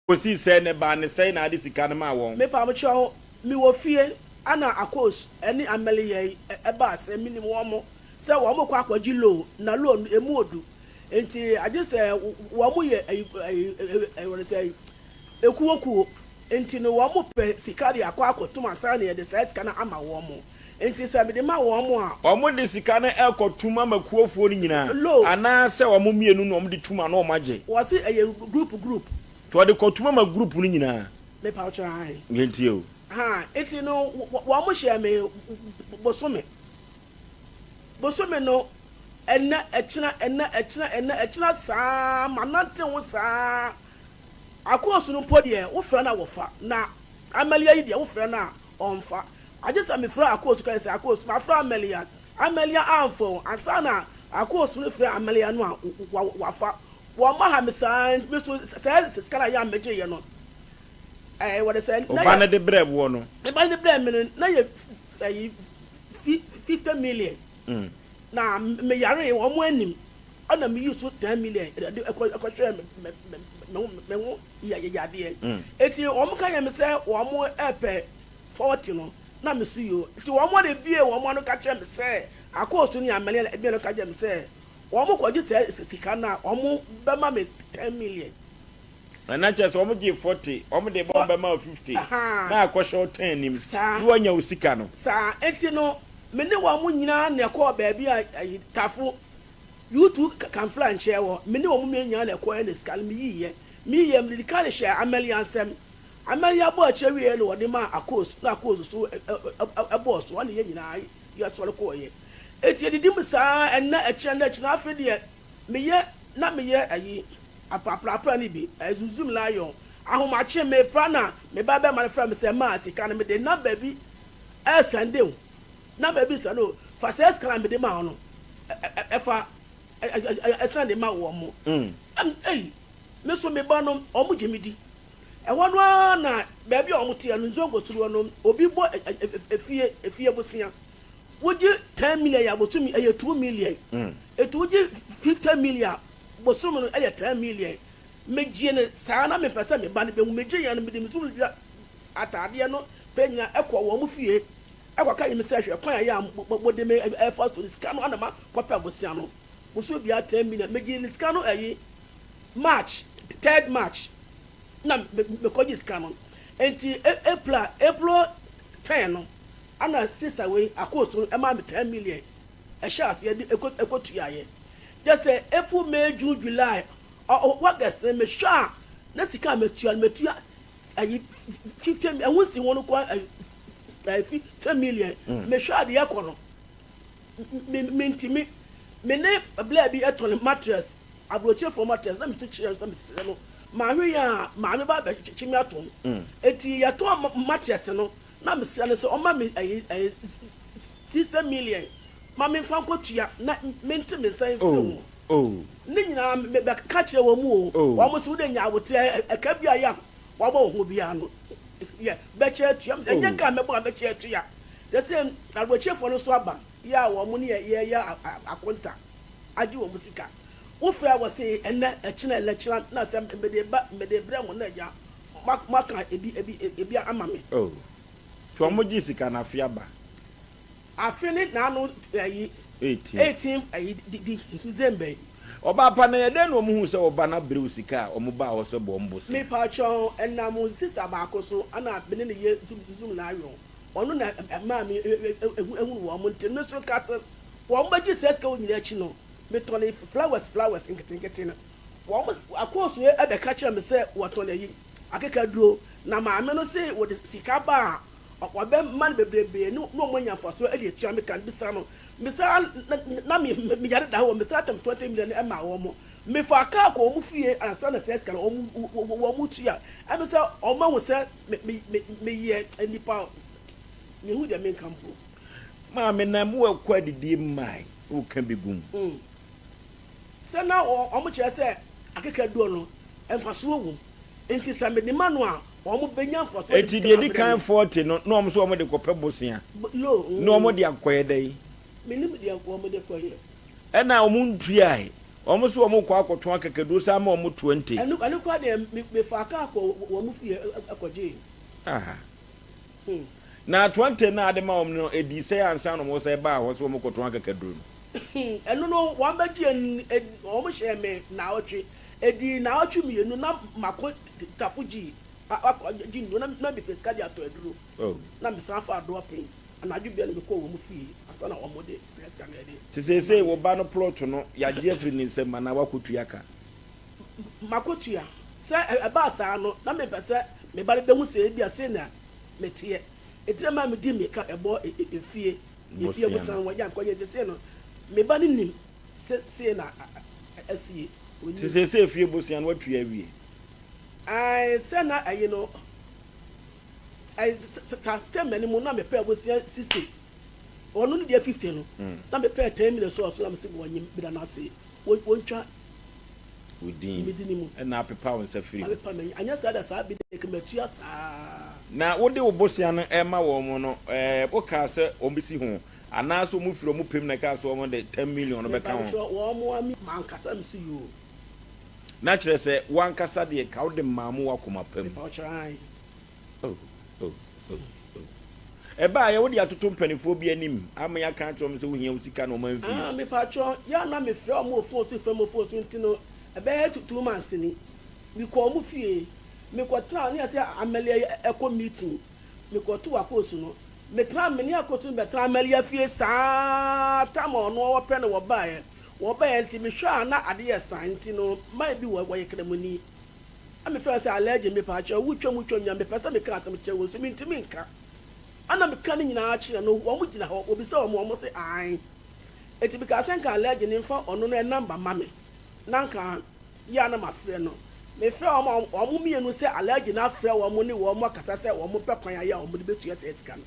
Kosii sɛ ne ba ne sɛe na ade sika no maa wɔn. Mepa mo kyɛw, me wɔ fie ɛna Akos ɛne Amelia yi ɛbaa sɛ me nim wɔn mo sɛ wɔn mo kɔ akɔgye loan na loan no ɛmu ɔdu nti agye sɛ wɔn mo yɛ ɛyi ɛyi ɛyi wɔn sɛ ɛyi ɛkuo kuo nti no wɔn mo pɛ sika de akɔ akɔtom ansa na yɛde saa sika no ama wɔn mo. Enti sɛ mede ma wɔn a. Wɔde sika no rekɔ tum ama kuofoɔ no nyinaa. Lo. Anaa sɛ wɔn mmienu na wɔde tum anaa wɔagye. Wɔse ɛyɛ group group. Nti wɔde kɔ tum ama group no nyinaa. Mepa wo kyɛw ahe. Nti o. Haa, nti no wɔn hyɛɛ me bosome. Bosome no ɛnɛ ɛkyena ɛnɛ ɛkyena ɛnɛ ɛkyena saa ma nante ho saa. Akoosu no mpo deɛ wo frɛ no a wɔfa, na Amelia yi deɛ wo frɛ no a Ɔmfa. Agye sɛ mefrɛ Akos kae sɛ, Akos, mafrɛ Amelia. Amelia amfa o. Ansa na Akos refrɛ Amelia no a, wafa. Wɔma ha me saa ara nti, me nso saa sika no a Yan megyeeɛ no, ɛɛ, wɔde sɛ na yɛ. Ɔba no de brɛɛ boɔ no. Ne ba no de brɛɛ me no, na yɛ ɛyi fifty million. Na meyaree, wɔn anim, ɛna meyii so ten million de kɔhwɛɛ me ho. yɛ yayadeɛ nti wɔn ka yɛ me sɛ wɔn ɛpɛ fɔɔte no na me so yoo nti wɔn de bie wɔn ano ka kyerɛ me sɛ akoosu ne amane na ɛbia no ka kyerɛ me sɛ wɔn kɔ gye sɛ sika no a wɔn bɛma me ten million. Ɛna kyerɛ sɛ wɔn gye fɔɔte wɔn de bɛ wɔn bɛma o fifty na akɔ hyɛ o ten nim na wɔnya o sika no. Saa nti no me ne wɔn nyinaa na ɛkɔɔ baabi a ayi tafo You two kamfra nkyerɛɛ hɔ, me ne wɔn mmienu nyinaa na ɛkɔeɛ na sika no meyiiɛ. Meyiiɛ, mede de kaale hyɛɛ Amelia nsam. Amelia bɔɔ akyire wieeɛ na ɔde maa Akos na Akos nso bɔɔ so, ɛnna yɛn nyinaa yɛsɔre kɔeɛ. Enti yɛdidim saa ara ɛnnɛ, ɛkyena nnɛ, ɛkyena afei deɛ meyɛ na meyɛ ayi, apraprapra no bi, Zum-Zum Lion. Ahomakye, mepra na me ba barima no frɛ me sɛ, Ma sika no, mede nam baabi resɛnde wo. Na mabisa no, Fa saa sika no a mede maa wo no, fa san de ma wɔn. Na mise, Ei, me nso me ba no, wɔgye me di. Ɛhɔ no ara na baabi a wɔteɛ no, Nzongo Suruwa no, obi bɔ efie, efie bosea. Wogye ten million a, bosome ɛyɛ two million. Enti wogye fifty million a, bosome no ɛyɛ ten million. Megyee no saa ara, na mempɛ sɛ me ba no bɛhu. Megyee yɛn, mede me sukuu ataadeɛ no pɛ nyinaa kɔɔ wɔn fie. Ɛkɔ ka yem sɛ hwɛ kwan a ɛyɛ a mo de me ɛfa so ne sika no ana ma kɔ pɛ bosea no boso biara ten million me gye ne sika no ɛyi March third March na me kɔ gye sika no enti April a April ten no ana sister wei akooso no ɛma me ten million ɛhyɛ aseɛ de ɛkɔ tua yɛ gye sɛ April May June July August no me hwɛ a na sika a me tua no me tua ayi fi kyɛ mi ɛho nsi ho no kɔ ayi ayi fi kyɛ million mm. mehwɛ adeɛ kɔ no me me ntumi me ne abila bi ɛtɔ ne mattress aburokyefoɔ mattress na mesu kyerɛ sɛ mesrɛ no maame yɛ a maame ba bɛkyekye me atom mm. eti yɛtɔ mattress no na mesrɛ no sɛ ɔma me ayi ayi sixty million ma memfa nkɔtua na mente me nsa mfiri ho oh. oh. Ne nyinaa me bɛka kyerɛ wɔn o. Oh. Wɔn se wo de nyaa wo te ɛ ɛ ka biaa ya wabɔ wo ho biaa no yɛ bɛkyɛ atua oh. Ɛnyɛ ka a mɛbɔ a bɛkyɛ atua sɛ se arobokyefo no so aba yɛ a wɔn ne yɛ yɛ a a akonta agye wɔn sika wo frɛ wɔ se ɛnɛ ɛkyena ɛnɛ kyena na sɛ me de ba me de brɛ mo na agya mo mo aka ebi ebi ebi ama me oh. To wɔn gye sika no afe aba. Afe ne naano ayi eighteen ayi di Misraim bɛ. Ɔbaa pa na yɛ dɛn na wɔn hu sɛ ɔba no abrew sika a wɔn baa hɔ sɛ bɔ wɔn bosea. Me pa kyɛ wo ɛnam wo sister baako so ɛna me ne no yɛ zoom na ayɔ ɔno na ɛmaa me ehunu wɔn nti me so ka sɛ wɔn bɛ gye saa sika wɔ nyina akyi no me tɔn no flowers flowers nketenkete no wɔn akɔ so ɛbɛ ka kyerɛ me sɛ wɔtɔn ayi akeka duro na maame no se wɔde sika baa Ɔbɛma no bebrebe ne wɔn anya mfasoɔ de atua me ka no. Mesraa no, mesraa na na meyare da hɔ, mesraa tam twenty million maa wɔn. Mefaa kaa kɔɔ wɔn fie ansa na saa sika no wɔn wɔtua. Ɛno sɛ wɔahu sɛ me me me meyɛ nipa a mehu deɛ menka mpo. Maame na mowɔ ɛkɔ adidie mmae woka bi gum. Sɛ na wɔkyerɛ sɛ akekaduɔ no, mfasoɔ wom. Enti sɛ mede ma no a, wɔbɛnya mfasoɔ de sika abrɛ me. Enti deɛ ɛdi kan foɔ te no, na wɔn nso wɔde kɔpɛ bosea, na wɔde akɔyɛ dɛn? Mennim deɛ wɔde kɔyɛ. Ɛnna wɔtuae. Wɔn nso wɔkɔɔ akɔtɔn akekaduo san ma wɔn twenty. Ɛno koraa deɛ, mefaa kaa kɔɔ wɔn fie kɔgyee. Ah! Na atoantɛn no a ade maa wɔn no dii sɛe ansa na wɔsan baa hɔ sɛ wɔrekɔtɔn akakaduru no. Ɛno no, wɔbɛgyee no, wɔhyɛɛ me naawɔtwe. Edii naawɔtwe mmienu na mako tafo gyee akɔgye nnuro na mepɛ sika de atɔ aduro. Na mesan faa dɔɔpem anadwo biara na mekɔɔ wɔn fie ansa na wɔde saa sika no de ama me. Te seesei, wo ba no plɔto no, yɛagye afiri ne nsam anaa wakɔtua ka. m'akatua. Sɛ ɛbaa saa no, na mempɛ sɛ me ba no bɛhu sɛ ebia sei na meteɛ. Enti na ɛma medi mmirika bɛbɔɔ efie efie abusua no ho. Yɛ ankɔ yie nti, sei no me ba no nim sɛ sei na asie. Ɔnnim. Nti seesei efie abusua no, woatua awie? Ae, sɛ na ɛye no, ae, saa tɛm no mu na mepɛ abusua sixty. Ɔno ne deɛ fifty no, na mepɛ ten minutes wɔ so na mese wɔnnyem, meda no ase, wɔntwa. wo din. Me din mu. Na apepa wo nsa firi ho. Apepa me, anyɛ saa da saa bede ka matua saa. Na wode wo bosea no rema wɔn no, wokaa sɛ wɔbɛsi ho? Anaasɛ wɔfiri wɔn pɛ mu na ɛkaa sɛ wɔde ten million no bɛka ho? Mebawokyerɛ, wɔn mmoa me. M'ankasa me so yoo. Na kyerɛ sɛ, wo ankasa deɛ, ka wode maa mo w'akoma pa mu. Mebawokyerɛ, aane. Ɛbaeɛ, wode atoto mpaninfoɔ bi anim ama yɛaka akyerɛ wɔn sɛ wohia wo sika na wɔn amfi. Ah me paatwɔ yɛ a na me frɛ wɔn wɔ phone so frɛ mo phone so nti no ɛbɛyɛ two two months ni me kɔɔ wɔn fie me kɔ traa ne yɛsɛ Amelia yɛ ɛkɔ meeting me kɔ too Akoosu no me traa me ne Akoosu no bɛ traa Amelia fie saa time a ɔno ɔwɔ pɛ na wɔbaeɛ wɔbaeɛ nti me hwɛ a na ade yɛ saa nti no man bi wɔ wɔyɛ kramoni. Na me frɛ sɛ Allegye me paakyɛw wo twam twam nea me pɛ sɛ me ka asɛm kyerɛ wɔn nso me ntumi nka ɛna me ka ne nyinaa kyerɛ no wɔn gyina hɔ wɔbisa wɔn wɔn se ae enti me kaa sɛ nka Allegye no nfa ɔno no number mma me na nka ye a na ma frɛ no me frɛ wɔn a wɔn mmienu sɛ Allegye no afrɛ wɔn ne wɔn akasa sɛ wɔn pɛ kwan aye a wɔn de bɛtua saa sika no.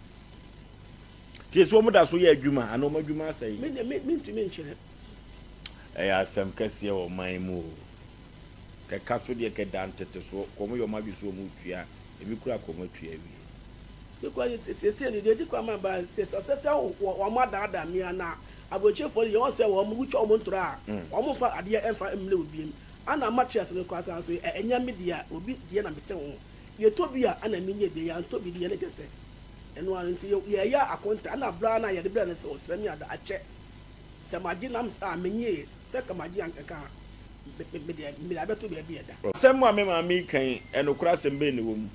Tie so wɔn da so yɛ adwuma ana wɔn adwuma asɛe. Me deɛ me ntumi nkyerɛ. Ɛyɛ asɛm kɛseɛ wɔ man mu o. Kɛka so deɛ kɛda ntetesoɔ kɔ ɔmo yɛ ɔmo adwene sɛ ɔmo retua a ebi koraa kɔ ɔmo atua awie. Yɛ kura yɛ siesie no deɛ edi kura ma ba sɛ sɛ sɛ sɛ wɔn adaadaa me anaa aburokyefoɔ no yɛ wɔn sɛ wɔn wotwa wɔn ntorɔ a wɔn nfa adeɛ nfa mmrɛ obi mu ana ma twe ase no koraa saa so yɛ ɛnyɛ me deɛ obi deɛ na me te ho yɛ tɔ bi a ana me nyɛ bi yɛ antɔ bi deɛ na kyɛ sɛ ɛno ara nti yɛ yɛ yɛ akonta ana bra na yɛ de brɛ no sɛ ɔsrɛ me ada akyɛ Sɛ magye nam saa a, menyɛ yie. Sɛ nka magye ankɛkɛ a, me, me deɛ, mede abɛto baabi a ɛda. Asɛm a me maame yi ka yi, nokorɛ asɛm bɛn na ɛwɔ mu?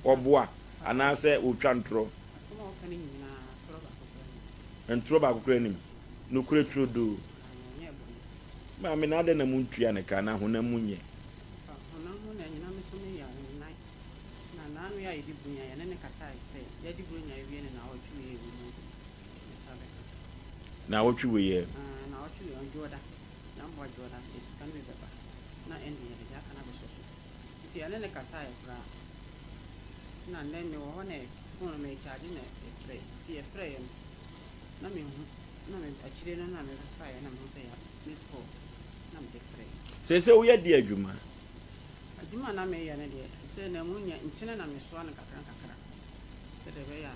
Ɔboa anaasɛ ɔretwa ntorɔ? Asɛm a ɔka no nyinaa, ntorɔ baako koraa nni mu. Ntorɔ baako koraa nni mu. Nokorɛ turodoo. Aane, ɔnyɛɛ bɔne. Maame, na adɛn na montua no ka, na honam mu nyɛ? Ɔfa honam mu na anyina me so me yɛ wo nan, na n'ano yɛ ayɛ de buronya, yɛne no kasaeɛ sɛ, yɛde buronya awie ne naawɔtwe wei a ɛwɔ mu agu. Naawɔtwe wei ɛ? Aah, naawɔtwe wei ɔn Dwoda, na mmoa Dwoda yɛde sika no bi bɛba, na ɛnde yɛde deɛ aka no abɛsɔ so. Nti yɛne no kasaeɛ koraa. Na nnɛ mewɔ hɔ na phone no merekyagye na ɛfrɛ, nti ɛfrɛeɛ no na menhu, na me akyire no na mebɛfaeɛ na mehu sɛ ya missed call na mede frɛɛ. Seesei woyɛ deɛ adwuma? Adwuma a na mereyɛ no deɛ, seesei na ɛmu nyɛ, nkyene na mesoa no nkakra nkakra sɛdeɛ ɛbɛyɛ a.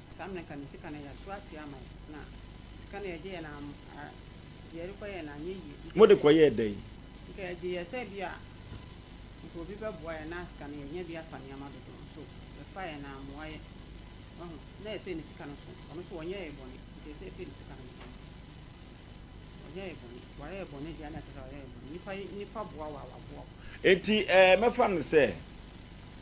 Saa mmerɛ nka ne sika no yɛaso atua ama yɛn na sika no yɛgye yɛ no am a deɛ yɛde kɔ yɛ no anyɛ yie nka Mode yɛde kɔ yɛɛ dɛn? nka yɛgye yɛ sɛ bi a nka obi bɛboa yɛn na sika no yɛnya bi afa nneɛma dodoɔ no so yɛfa yɛ no ammoa yɛ wahu na yɛsɛ ne sika no so ɔno nso ɔnyɛ yɛ bɔne nti ɛsɛ yɛpɛ ne sika no nti ɔnyɛ yɛ bɔne nti wayɛ yɛ bɔne deɛ na ɛkyerɛ sɛ wayɛ yɛ bɔne nipa yi nipa boa wo a waboa wo. Enti ɛɛ mɛfa no sɛ.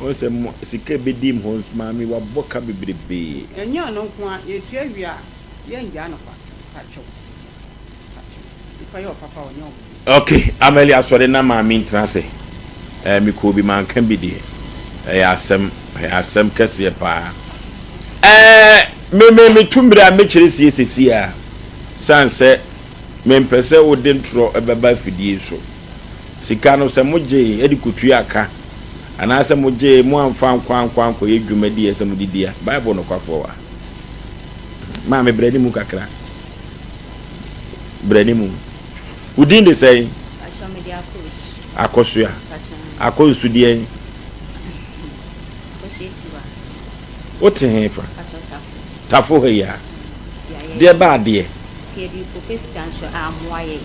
Ɔn sɛ mo sika ebedi mhɔ nso maame wabɔ ka bebrebee. Ɛnyɛ ɔno nko a yɛtua wie a yɛngyaa no kwa pakyɛw pakyɛw nipa yɛ ɔpapa ɔnyɛ ɔbɔne. Ok Amelia asɔre na maame ntena ase ɛɛ me kɔɔ bi manka bi deɛ ɛyɛ asɛm ɛyɛ asɛm kɛseɛ paa ɛɛ me me me tu mire a me kyerɛ sie sesie a san sɛ me mpɛ sɛ wo de ntorɔ ɛbɛba afidie so Sika no, sɛ mogyee de kotuaa ka anaasɛ mogyee moamfa ankɔ ankɔ ankɔyɛ dwumadi a ɛsɛ sɛ mode di a, Bible nokwafoɔ wɔ ha. Maa me brɛne mu kakra. Brɛne mu. Wo din de sɛn? Pakyɛ mede akɔsu. Akɔsu a? Pakyɛ. Akɔsu deɛn? Akɔsu etiwa. Wote he fa? Pakyɛ tafo. Tafo ha yi a? Deɛ baa deɛ? Deɛ bi pɛ sika nso a mmoa yɛn.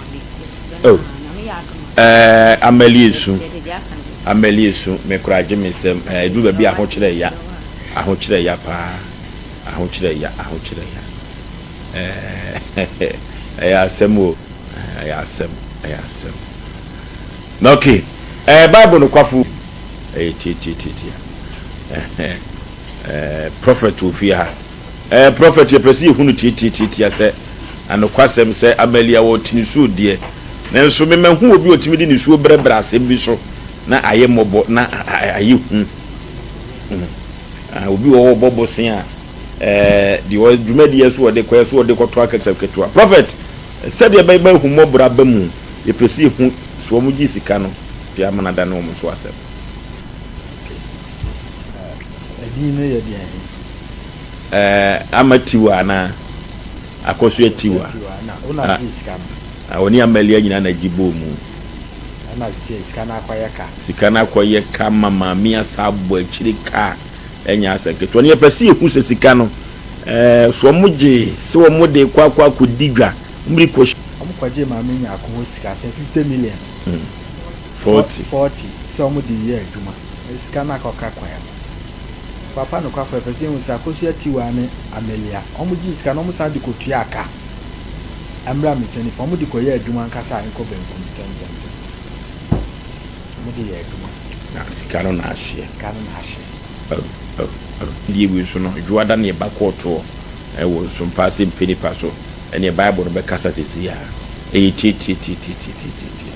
Oh eh, Amalie su, Amalie su, me koraa gye me nsam eh, ɛduru baabi ahokyerɛ ya, ahokyerɛ ya paa, ahokyerɛ ya, ahokyerɛ ya eh, ɛyɛ asɛm o, eh, ɛyɛ asɛm, ɛyɛ asɛm. Na okay, eh, Bible no kwafo, ɛyɛ tiatiatiatia, eh, eh, prophet wɔ fie ha, Eh Prophet yɛpɛ sɛ yɛhu no tiatiatiatia sɛ anokwasɛm sɛ Amalia wɔ ɔte nisuo deɛ nanso me mahu obi ɔtumi de nisuo brɛbrɛ asɛm bi so na ayɛ mmɔbɔ na ayɛ hu hmm ah obi wɔ hɔ ɔbɔ bosea a eh deɛ ɔ dwumadie so ɔde kɔ ɛso ɔde kɔtɔ akɛsɛ ketewa Prophet sɛdeɛ ɛbɛyɛ ma ahummɔborɔ aba mu yɛpɛ sɛ yɛhu sɛ wɔn gye sika no de ama no adane wɔn so asɛm. Okay eh ɛdin no yɛ deɛn he? Ɛɛ ama tiwa anaa akɔsoɛ tiwa a ɔne amalia nyinaa na gye bɔɔ mu sika no akɔyɛ ka ma maame asa abɔ akyire ka ɛnyɛ asɛ ketewa no yɛpɛ sɛ yɛhu sɛ sika no ɛɛ so wɔn gye sɛ wɔn de kɔ akɔ akɔ di dwa mmiri kɔ wɔn kɔgye maame nyaako hɔ sika sɛ fifty million forty forty sɛ wɔn de yɛ adwuma. Mede sika no akɔka kwan mu. Papa nokwafo, yɛpɛ sɛ yehu sɛ Akosua Tiwaa ne Amelia, wɔgyee sika no, wɔsan de kotuaa ka. Mmra me nsa nifa, wɔde kɔyɛɛ adwuma ankasa a ɛkɔ benkum ntɛmntɛmntɛm. Wɔde yɛɛ adwuma. Na sika no na ahyeɛ. Sika no na ahyeɛ. Agodie wei nso no, Dwoada na yɛba kɔɔtoɔ wɔ Nsompaa Asɛmpa Nnipa so, ɛnneɛ Bible no bɛkasa seesei ara. Ɛyɛ tie-tie-tie-tie-tie-tie-tie.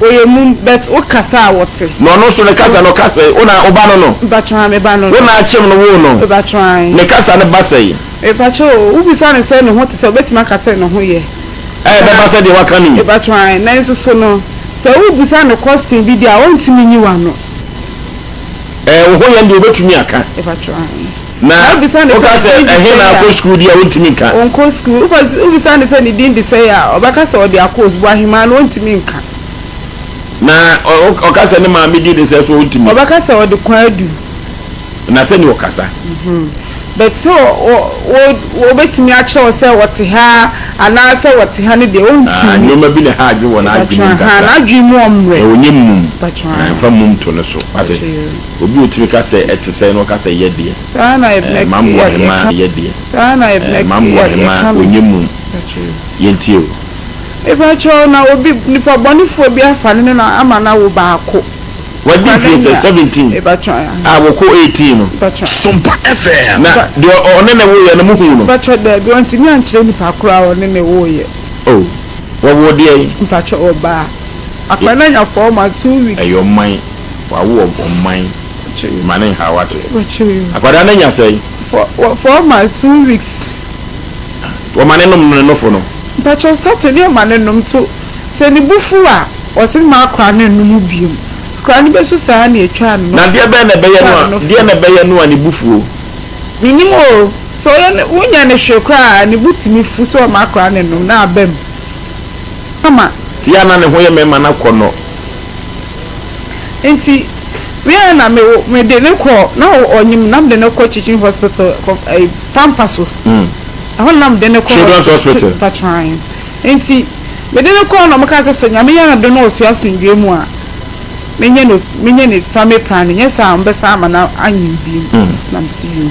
Ɔyɛ mum but wo kasa a wɔte. Na ɔno nso ne kasa no ɔka sɛɛ, Wona wo ba no no? Mpakyɛw ae, me ba no no. Wona akyem no woo no? Mpakyɛw ae. Ne kasa no ba sɛɛ. Mpakyɛw o, wo bisa no sɛ ne ho te sɛɛ, ɔbɛtumi aka sɛ ne ho yɛ. Ae. Ɛbɛba sɛ deɛ waka no yi. Mpakyɛw ae. Nanso so no, sɛ wo bisa no kɔsten bi deɛ a, ɔntumi nyi wano. Ɛɛ, wo ho yɛ deɛ ɔbɛtumi aka. Mpakyɛw ae. Na wobisa no sɛ ne din de sɛn a. Woka sɛ, Ɛhe na akɔ sukuu deɛ a, ɔntumi nka. Ɔnkɔ sukuu. Wobisa no sɛ ne din de sɛn a, ɔbɛka sɛ ɔde akɔ osukuu ahemaa no, ɔntumi nka. Na ɔka sɛ ne maame din de sɛn so a, ɔntumi. Ɔbɛka sɛ ɔde Kwadu. Na sɛdeɛ ɔkasa. But sɛ wɔbɛtumi akyerɛ wo sɛ ɔte ha anaa sɛ ɔte ha no deɛ, ɔntumi. Ah, nneɛma bi na ɛha adwene wɔ n'adwenem kakra. Mpakyɛ, aha, n'adwene mu ɔmmrɛ. Na ɔnyɛ mmum. Mpakyɛ, ah. Mfa mmum to ne so. Wate? Obi otumi ka sɛ, Ɛte sɛn? Na ɔka sɛ, Yɛ deɛ. Ɛɛ, m'aboa hemaa a yɛ deɛ. Ɛɛ, m'aboa hemaa a ɔnyɛ mum. Yɛntie o. Mepakyɛw, na obi, nipa bɔnefoɔ bi afa ne nana ama no awo baako. Wadi mfie sɛ seventeen a wɔkɔ eighteen no. Sompa FM. Na deɛ ɔne no woeɛ no, mohuu no? Mepakyɛw, daabi, wɔntumi ankyerɛ nipa koro a ɔne no woeɛ. Oh, wɔwoo deɛn? Mepakyɛw, ɔbaa. Akwadaa no anya four months, two weeks. Ɛyɛ ɔman. wawo wɔ ɔman ma ne nhaw ate. Akwadaa no anya sɛn? For for four months two weeks. Wɔma ne nom no ne nofo no. Mpakyɛw starting ne ɔma ne nom to sɛ ne bo fuw a ɔse mma akwadaa no nnom bio. Akwadaa no bɛsu saa ara na yɛtwaa ne nofo. Na deɛ bɛn na ɛbɛyɛ no a deɛ na ɛbɛyɛ no a ne bo fuo? Menim o, sɛ ɔyɛ ne wonyɛ no hwee koraa a ne bo tumi fu sɛ ɔma akwadaa no nnom na aba mu ama. Tia na ne ho yɛ mɛma no akɔnnɔ. Nti me ara na me me de ne kɔ na ɔnyim na me de ne kɔ teaching hospital kɔ ɛyi pampa so. Mm. Ɛhɔ na me de ne kɔ children's hospital patran. Nti me de ne kɔ na ɔmo ka sɛ sɛ nyame yɛ adom na ɔsua asomdwe mu a me nyɛ no me nyɛ ne family planning nyɛ saa a ɔmo bɛsan ama no anyin bio. Mm. Na me si yoo.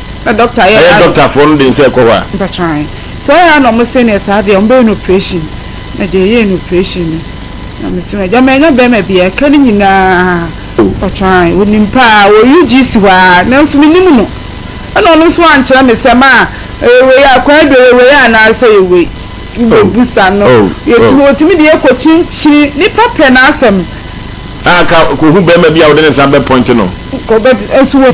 Na doctor yɛ. Ɛyɛ doctor foɔ no den sɛ ɛkɔ hɔ a. Mpakyɛw nti ɔyɛ a na ɔmo se neɛ saa deɛ ɔmo bɛyɛ no operation na gya yɛɛ no operation no na me se no gya manya bɛɛma biaa ɛka no nyinaa mpakyɛw onim paa wɔ ug si hɔ aa nanso me nim no ɛna ɔno nso ankyerɛ me sɛ maa ɛyɛ wei a kwadu ɛyɛ wei a anaa sɛ ɛyɛ wei me bɛ bu sa no yɛtumi ɔtumi de yɛ kɔ kyinkyini nipa pɛ na asɛm. Aa ka kɔ hu bɛɛma bi a ɔde ne nsa bɛ point no. Kɔ bɛ nso wɔ.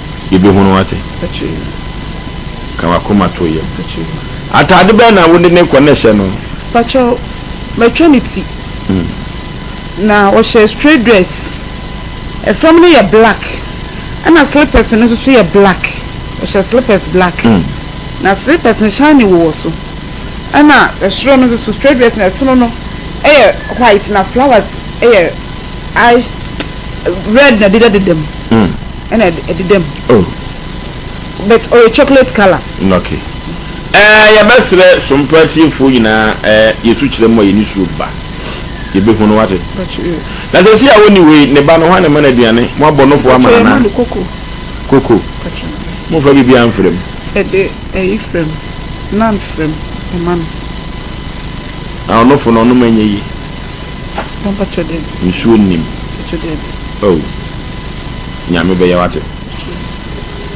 Yebehunu ate. Ka w'akoma to yam. Atade bɛn na wode no rekɔ na hyɛ no. Pakyɛw, matwa ne ti. Na ɔhyɛ straight dress. Fam no yɛ black ɛna slippers no nso yɛ black. Ɔhyɛ slippers black. Na slippers no shining wowɔ so. Ɛna soro no nso straight dress no ɛsono no yɛ white na flowers yɛ red na ɛdeda deda mu. ɛna ɛdeda mu. Oh. But ɔyɛ chocolate colour. Mm, okay. Eh, yɛbɛsrɛ Sompra tiefoɔ nyinaa eh, yɛ sukyerɛ mu a yɛni suro ba. Yɛbɛhu no wate. Na sɛ si a wɔni wei, ne ba no, hwan na ɛma no aduane? Mo abɔnofoɔ ama no anaa? Yɛma no koko. Koko? Momfa biribiara mfra mu. Ɛde ɛyi fra mu, nan fra mu, ɛma no. Na ɔnofo no, ɔnom ɛnyɛ yie? Nsuo nnim. Oh. Nyame bɛyɛ wate.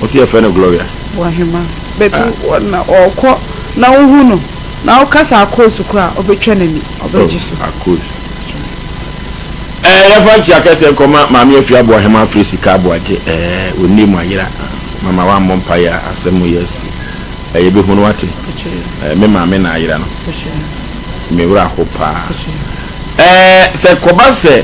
Wo se yɛfrɛ no Gloria. Wɔ hema but wɔ na ɔkɔ na wo hu no na wo kasa akoosu kora a ɔbɛtwa nani ɔbɛ gye so. Oh akoosu eh yɛfa nkyia kɛseɛ nkɔ ma maame afiri aboa hema afiri sika aboa gye eh ɔnne mu ayera mama wa mmɔ mpaeɛ a asɛm mu yɛ asi eh yɛ bɛ hu no wate eh me maame na ayera no me wura ho paa eh sɛ kɔba sɛ.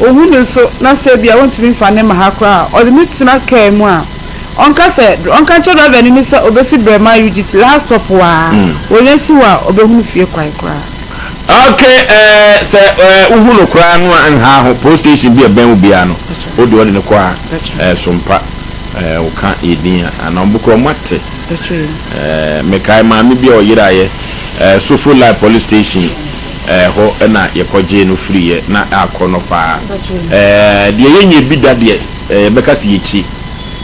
Owu no nso, na sɛ ebia ontumi mfa ne mma ha koraa a, ɔde no tena kaa mu a ɔnka sɛ, ɔnka nkyerɛ drɔvani no sɛ obesi brɛ ma UGC last stop hɔ ara. Onya si hɔ a, obehunu fie kwan koraa. Ok, eh, sɛ eh, wohu no koraa no a, nha ho. Post station bi a ɛbɛn wo biara no, wo deɛ wɔde no kɔ a, eh, Sompa, eh, woka yɛ din a, anaa wɔn koraa wɔate. Eh, mekae maame bi a ɔyeraeɛ, eh, Sofo Lai Police Station. Ɛhɔ na yɛkɔgyee no firiiɛ, na akɔnnɔ pa ara. Deɛ yɛnyɛ bi da deɛ, yɛbɛka sɛ yɛkyi.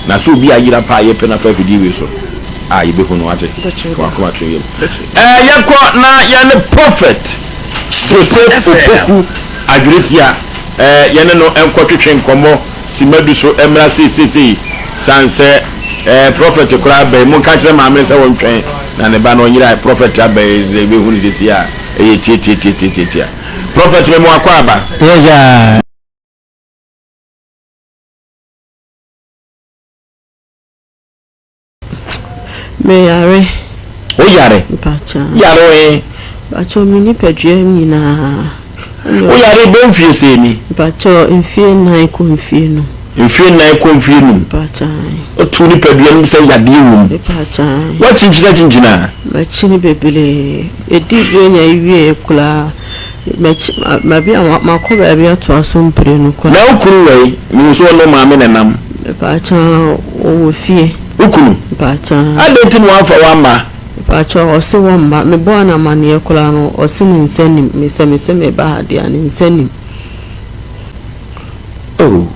Na sɛ obi ayera paa a yɛpɛ no afa afidie wei so a, yɛbɛhu no, woate? Fa w'akoma to yam. Yɛkɔ na yɛne Prophet Soso Opoku Adweretia, yɛne no nkɔtwetwe nkɔmmɔ. Simma du so mmra seisesei, sane sɛ eh, prɔfɛt koraa aba yi, monka nkyerɛ maame no sɛ ɔntwɛn na ne ba no ɔnyera, prɔfɛt aba yi, sɛ yɛbɛhu no seisei a, ɛyɛ tiatiatiatiatiatia. Prɔfɛt mema w'akwaaba. Yes sir. Meyare. Woyare? Mpakyɛ. Yare wɔ he? Mpakyɛ me nipadua nyinaa. Woyare bɛ mfie sɛ ni? Mpakyɛ mfie nan kɔ mfie num. Mfie nan kɔ mfie num? Mpakyɛ. Wotu nipadua no sɛ yadeɛ wɔ mu? Mpakyɛ. Woakyinkyini akyinkyini a? Makyini bebree. Ɛdi berɛ nya wie koraa. Makɔ baabi atoa so mprenu kɔ. Na wo kunu wɔ he? Mehu sɛ ɔne wo maame na ɛnam. Mepakyɛ, ɔwɔ fie. Wo kunu? Mepakyɛ. Adɛn nti na wamfa wo amma? Mepakyɛ, ɔse wɔmma. Mebɔɔ no amanneɛ koraa no, ɔse ne nsa nnim me sɛ mese meba ha deɛ a, ne nsa nnim. Oh.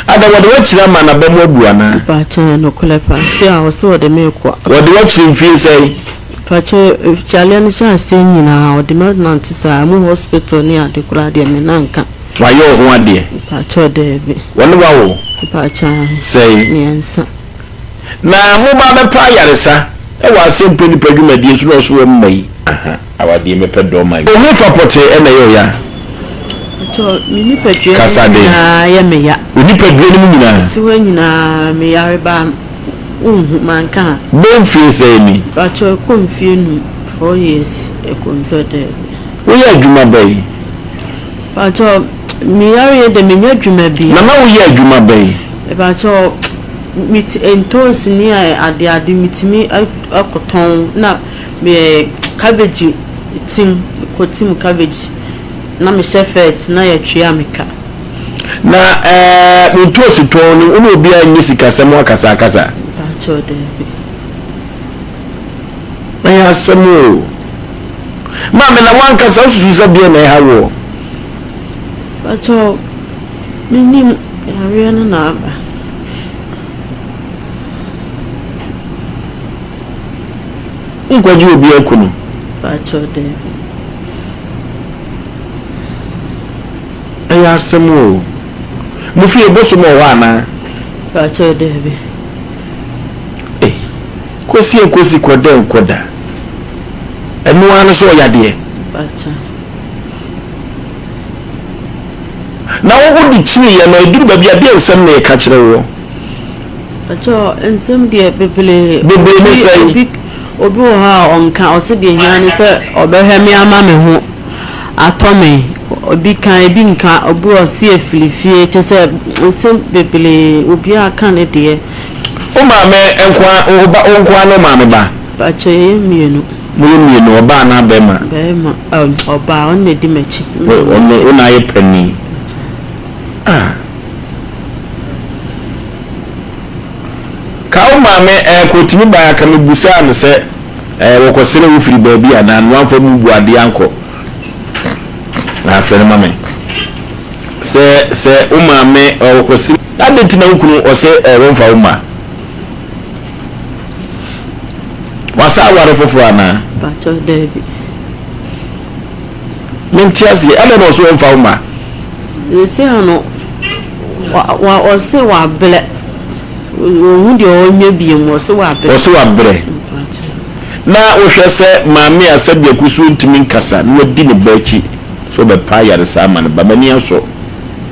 Adɛn, wɔde wo akyiri ama n'aba mu abu anaa? Mepakyɛ, nokorɛ paa. Se a, ɔse ɔde me rekɔ. Wɔde wo akyiri mfie sɛn? Pakyɛw ofikyaleɛ no hyɛ aseɛ nyinaa ɔde me anante saa ɛmu hospital ne ade koraa deɛ me nan nka. Wayɛ wo ho adeɛ? Pakyɛw daabi. Wɔne wo awo? Pakyɛw ahe? Sɛi? Mmiɛnsa. Na mo ba bɛpa ayaresa wɔ aseɛ mpɛ nipa adwumadie so na ɔso wɔ mma yi aha awadeɛ mɛpɛ dɔ ma yi. Oho fa pɔtee na ɛyɛ ɔya? Pakyɛw me nipadua no mu nyinaa yɛ me ya. Wo nipadua no mu nyinaa? Ti hɔ nyinaa me yare baa me. Wo nhu manka ha. Bɛ mfie sɛɛ ni. Pakyɛ ɛkɔ mfie num. Four years ɛkɔ mfie dɛɛbi. Wo yɛ adwuma bɛn. Pakyɛ me yareɛ dɛ me nyɛ adwuma bia. Na na wo yɛ adwuma bɛn. Pakyɛ me ti ntoosi ne ade ade me timi ɛkɔ tɔn na me yɛ cabbage tim kɔ tim cabbage na me hyɛ fɛt na yɛ twea me ka. Na eh, montu osutɔn no, wo ne obiara nyɛ sikasɛm ho akasakasa. Mpakyɛw, daabi. Ɛyɛ asɛm o. Maame, na wankasa wosusu sɛ deɛ na ɛha woɔ? Mpakyɛw, menim yareɛ no na aba. Nkwagye obi aku no? Mpakyɛw, daabi. Ɛyɛ asɛm o. Mo fie bosom wɔ hɔ anaa? Pakyɛw daabi. Ei, Kosi nkosi kɔda nkɔda. Ɛno ara no so ɔyɛ adeɛ? Pakyɛw. Na wo wode kyini yɛ no ɛduru baabi a deɛ nsɛm na ɛka kyerɛ woɔ? Pakyɛw nsɛm deɛ bebree. Bebree ne sɛn? Obi wɔ hɔ a ɔnka, ɔse deɛ ehia ne sɛ ɔbɛhwɛ me ama me ho atɔ me, obi ka, ebi nka, obi wɔ se efiri fie, kyerɛ sɛ nsɛm bebree, obiara ka ne deɛ. Wo maame nkoaa, wo ba, wo nkoaa ne wo maame ba? Mpakyɛ yɛyɛ mmienu. Moyɛ mmienu, ɔbaa anaa bɛɛma? Bɛɛma, ɛm, ɔbaa, ɔno na edi m'akyi. Wo, ɔno, wo na ayɛ panin. Ah. Ka wo maame eh kɔ tumi bae a ka me busaa no sɛ eh wɔkɔ sere wo firi baabi anaa na wamfa mu bu adeɛ ankɔ na frɛ no ma me sɛ sɛ wo maame eh wɔkɔ sere na adeɛ nti na wo kunu ɔsɛ eh wɔmfa wo ma wasa aware foforɔ anaa. Pacho Dabi. Mente aseɛ. Adɛn na ɔse ɔmfa wo mma? Seesei no, ɔse wabrɛ. Ɔnhu deɛ ɔnyɛ biom, ɔse wabrɛ. Ɔse wabrɛ. Na wohwɛ sɛ maame a sɛdeɛ kusuu ntumi nkasa na wadi ne ba akyi sɛ ɔbɛpa ayaresa ama ne ba, m'ani asɔ.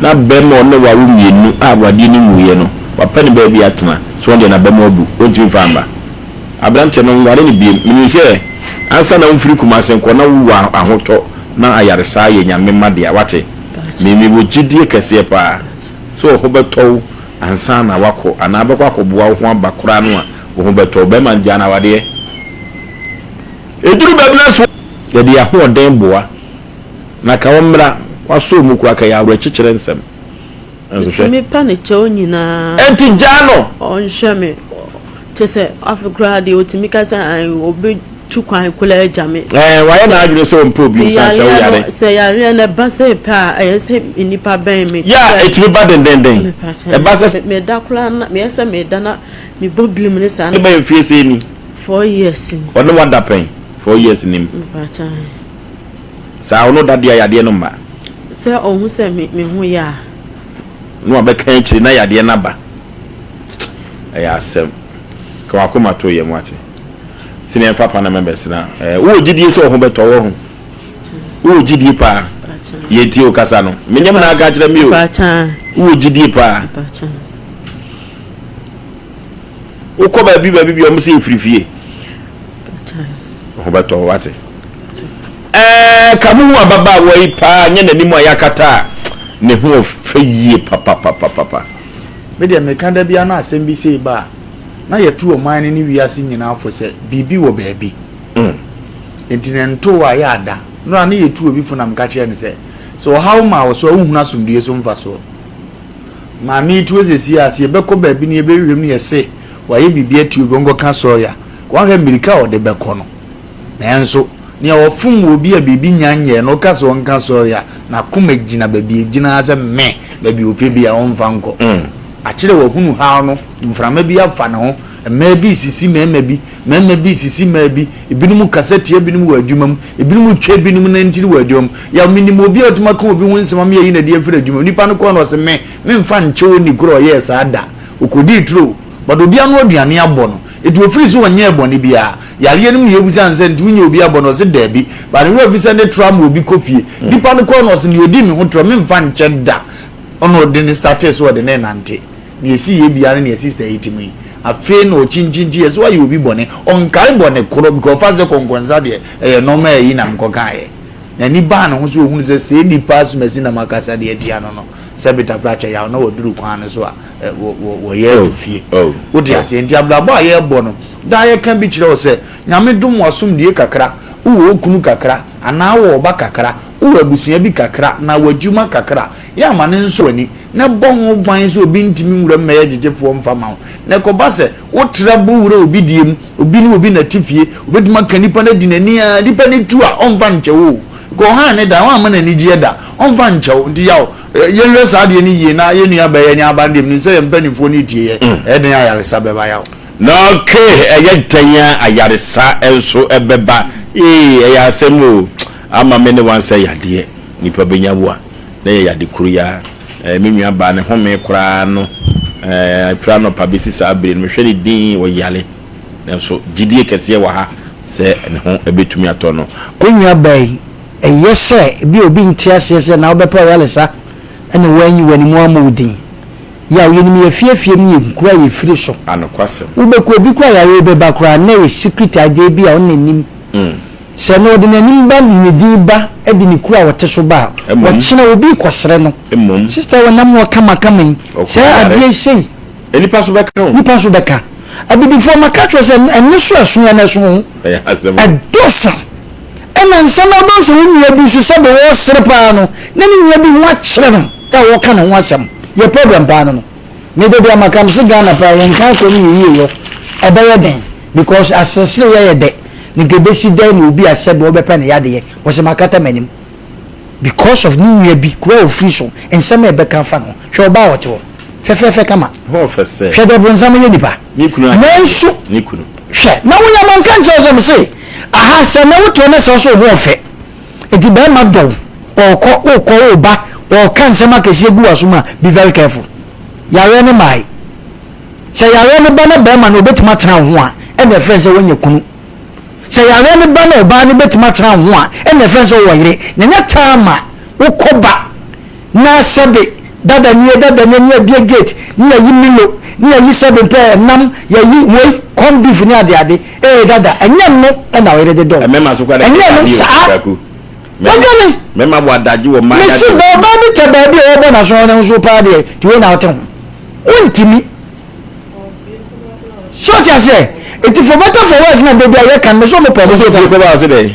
Na barima a ɔne wo awo mmienu a awadeɛ no nwuiɛ no, wapɛ ne baabi atena, sɛ ɔno deɛ n'aba mu abu, ɔntumi mfa mma. Aberanteɛ no, nware no biom. Menim sɛ ansa na wofiri Kumasi nkɔ na wowu wɔ ahotɔ na ayaresaa yɛ Nyame mma dea, wate? Me, me wɔ gyidie kɛseɛ paa sɛ wo ho bɛtɔ wo ansa na woakɔ anaa bɛkɔ akɔboa wo ho aba koraa no a, wo ho bɛtɔ wo. Bɛrima no gyaa no awadeɛ. Ɛduru baabi no a so. Yɛde yɛn ahoɔden boa. Na ka wɔmmra, wɔasɔ mu koraa, ka yɛn awerɛkyekyerɛ nsɛm nso, hwɛ. Metumi pa ne kyɛw nyinaa. Enti gyaa no. Ɔnhwɛ me. Kyerɛ sɛ, afei koraa deɛ, ɔtumi ka sɛ, ae, ɔbɛtu kwan koraa agya me. Ɛɛ, wayɛ n'adwene sɛ ɔmpɛ obi nsa sɛ woyare. Sɛ yareɛ no ɛba sɛ pɛ a, ɛyɛ sɛ nnipa bɛn me. Ya, ɛtumi ba dendenden. Ɛba sɛ. Meda koraa na, meyɛ sɛ meda na mebɔ birim ne saa. Bɛyɛ mfeɛ sei ni. Four years ni. Ɔne wo ada pɛn? Four years ni mu. Mepakyɛ ae. Saa, ɔne wo da deɛ a yadeɛ no mma. Sɛ ɔhu sɛ me ho yɛ a. Na wabɛka akyire na yadeɛ no aba. Ɛyɛ asɛm. Ka w'akoma to yam, woate? Sɛ nea ɛmfa kwan na mɛbɛsena. Ɛɛ, wowɔ gyidie sɛ wo ho bɛtɔ wo ho? Wowɔ gyidie paa? Yɛntie wo kasa no. Menyɛ me na aka kyerɛ me o. Wowɔ gyidie paa? Wokɔ baabi baabi bi ɔmo sɛ efiri fie. Wo ho bɛtɔ wo, woate? Ɛɛ, ka mo hu ababaawa yi paa, nyɛ n'anim a yɛakata a, ne ho ɔfɛ yie papapapapa. Me deɛ meka da biara na asɛm bi sei ba a, na yɛtu ɔman no ne wiase nyinaa fo sɛ biribi wɔ baabi. Enti na ɛntoo a yɛ ada no a na yɛtu obi fo na meka kyerɛ no sɛ, sɛ ɔhaw maa wo so a wonhunu asomdwoeɛ so mfasoɔ. Maame yi tuo seesei a, sɛ yɛbɛkɔ baabi na yɛbɛhwehwɛ mu na yɛse wayɛ biribi atia obi ɔnkɔka sɔre a, wanhwɛ a mmirika a ɔde bɛkɔ no, Nanso, nea ɔfom wɔ obi a biribi nnya nyɛɛ no, ɔka sɛ ɔnka sɔre a, n'akoma gyina baabi a egyina ara sɛ mɛ, baabi a ɔpɛ biara, ɔremfa nkɔ. Akyerɛ wahunu haw no, mframa bi afa ne ho, mmaa bi resisi mmarima bi, mmarima bi resisi mmaa bi, ebinom rekasa tia ebinom wɔ adwumam, ebinom retwa ebinom nantin wɔ adwumam. Yaw, minim obi a otumi aka obi ho nsɛm ama yɛayi no adi afiri adwumam. Nipa no kɔe no, ɔse, Me, memfa nkyɛ onni koro a ɔyɛɛ saa da. Okodii turo, but obi ano aduane abɔ no. Enti ofiri se ɔnyɛɛ bɔne biara. Yareɛ no mu yɛ hu sane sɛ nti wonya obi abɔ no ɔse daabi but ne werɛ fi sɛ ne tra ma obi kɔ fie. Nipa no kɔɔ no ɔse nea ɔdi me ho tra memfa nkyɛ da ɛna ɔde no startee sɛ ɔde no renante. Nea ɛsiiɛ biara ne nea sister yi te mu yi. Afei na ɔkyinkyinkyiiɛ sɛ wayɛ obi bɔne. Ɔnkae bɔne koro because ɔfa no sɛ kɔnkɔnsa deɛ ɛyɛ normal ayi na mekɔkaeɛ. N'ani baa ne ho so ɔhunu sɛ sei nipa asumasi na makasa de atia no no sɛ Betafra kyɛ yaw na waduru kwan no so a wɔyɛ to fie. Wode aseɛ nti abrabɔ a yɛrebɔ no daa yɛka bi kyerɛ wo sɛ Nyame dom wo asomdue kakra, wowɔ wo kunu kakra anaa wowɔ wo ba kakra, wowɔ abusua bi kakra anaa w'adwuma kakra. Yɛ ama no nsɔ w'ani na ɛbɔ ho ban sɛ obi ntumi nwura mu mmɛyɛ gyegyefoɔ mfa ma wo. Na ɛkɔba sɛ wotra bɔ wura obi deɛ mu, obi ne obi na ɛte fie, wobɛtumi aka nipa no adi n'ani ara, nipa no tu a ɔmfa nkyɛ wo o, because ɔhaa ne da, woamma no anigyeɛ da, ɔmfa nkyɛ wo. Nti Yaw, Yɛnhwɛ saa adeɛ no yie na yɛn nuabɛyɛ ne aba no deɛ menim sɛ yɛn mpanimfoɔ no retie yɛn. Ɛyɛ dɛn a ayaresa bɛba yaw? Na okay, ɛyɛ dɛn a ayaresa nso bɛba? Ee, ɛyɛ asɛm o. Ama me ne wo ansɛ yadeɛ. Nipa bɛnya wo a, na ɛyɛ yade koro yi ara. Ɛɛ, me nuabaa no homee koraa no, ɛɛ, ɛfiri anɔpa bɛsi saa berɛ no, mehwɛ no dinn, ɔyare. Nanso gyedie kɛseɛ wɔ ha sɛ ne ho bɛtumi atɔ no. Wo nuabaa yi, Eye sɛ ebia obi nte aseɛ sɛ na wobɛpɛ ɔyalesa na woanyi w'animu ammɔ wo din. Yaw, yɛnim yɛ afiefie ne yɛn nkuro a yɛfiri so. Anokwasɛm. Wobɛku obi koraa a yareɛ bi bɛba koraa na ɛyɛ secret adeɛ bi a ɔnna nnim. Sɛ na ɔde n'anim ba de ne din ba de ne kuro a ɔte so ba a, ɔkyena obi rekɔsrɛ no. Mmom. Sister wɔ nam hɔ kamakama yi, saa adeɛ sei. Nnipa nso bɛka ho. Nnipa nso bɛka. Abibifoɔ, maka akyerɛ wo sɛ ɛnne so a ɛso yɛn no ɛso wo ho. Ɛyɛ asɛm o. Ɛdɔɔso. Ɛna nsɛm a wobɛhu sɛ wo nua bi nso sɛdeɛ ɔresere paa no na ne nua bi ho akyerɛ no a wɔka ne ho asɛm. Deɛ problem paa no no me da bi a maka mese Ghana paa yɛn nka akɔ ne yɛ yie wɔ ɛbɛyɛ dɛn because aseresere yɛ yɛ dɛ na nka ɛbɛsi dɛn na obi a sɛdeɛ ɔbɛpɛ ne yadeɛ wɔse makata m'anim because of ne nua bi kuro a ɔfiri so nsɛm a ɛbɛka afa ne ho. Hwɛ ɔbaa a ɔte hɔ, fɛfɛɛfɛ kama. Hwɛ deɛ bonsam yɛ nipa. Nanso, hwɛ, na wo nyɛ manka nkyerɛ wo sɛ mese, Aha, sɛ nnɛ woteɛ na sɛ wo so wo ho ɔfɛ, enti barima dɔ wo, ɔrekɔ, worekɔ, woreba, ɔreka nsɛm akɛseɛ gu w'asom a, be very careful. Yareɛ no mmae. Sɛ yareɛ no ba na barima no ɔbɛtumi atena wo ho a, ɛnna ɛfrɛ no sɛ woanya kunu. Sɛ yareɛ no ba na ɔbaa no bɛtumi atena wo ho a, ɛnna ɛfrɛ no sɛ wowɔ yere. Na ɛnyɛ taa ma wokɔba. Na sɛbe dada nie dada nie ne yɛbie gate ne yɛyi milo ne yɛyi sɛbe mpɛ nam yɛyi wei corn beef ne adeade ee dada ɛnyɛ nno na ɔyere de dɔw ɛnyɛ no saa wadwane mese bɛ ɔbaa bi tɛ baabi a ɔbɔ naso ɔne ho so paa deɛ ti wei na ɔte ho wontimi so ɔte aseɛ eti for better for worse na baabi a yɛ kan mese ɔmo pɛ ɔmo so pɛ.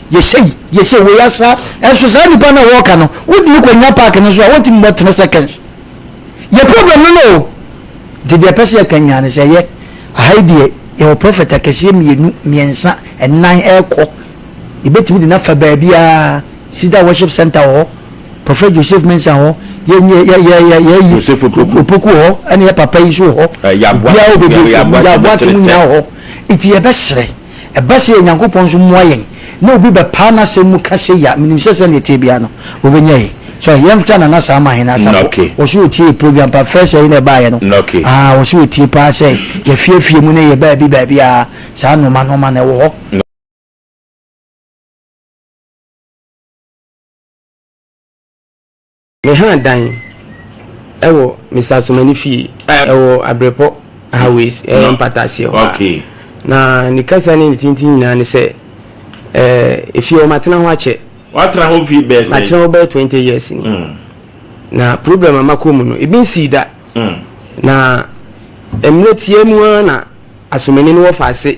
yɛhyɛ yi yɛhyɛ wei asa ɛnso saa nipa no a wɔka no wode no kɔnya park no so a wɔntumi bɔ tena seconds yɛ problem no no o nti deɛ ɛpɛ sɛ yɛka nyinaa no sɛ yɛ aha yi deɛ yɛwɔ prɔfɛt akɛseɛ mmienu mmiɛnsa ɛnan ɛrekɔ yɛbɛtumi de no afa baabiaa sida worship center wɔ hɔ prɔfɛt joseph mensa hɔ yɛyi opoku hɔ ɛne yɛ papa yi so hɔ biaa wobɛbɛyaboa te mu nyinaa hɔ nti yɛbɛserɛ Ɛba sei a, Nyankopɔn nso mmoa yɛn na obi bɛpaa n'asɛm mu ka sei a, menim sɛ sɛdeɛ ɛteɛ biara no, ɔbɛnya yi. So yɛmfta Nana saa ma Hene Asafo. Ɔse ɔtie yɛ program paa, first ɛyi na ɛbaeɛ no. Aah ɔse ɔtie paa sɛ yɛ afie afie mu ne yɛ baabi baabi a, saa nnoɔma nnoɔma no ɛwɔ hɔ. Mehaa dan wɔ Mr. Asomani fie ɛwɔ Abrepɔ Highways ɛyɛ mpata aseɛ hɔ a. Na ne kasa ne ne tintin nyinaa ne sɛ ɛɛ efie hɔ matena ho akyɛ. Watena hɔ fie bɛyɛ sɛ? Matena hɔ bɛyɛ twenty years ni. Mm. Na problem a makɔ mu no ebi nsii da. Mm. Na mmerɛ tiaa mu ara na Asomani no wɔ faase.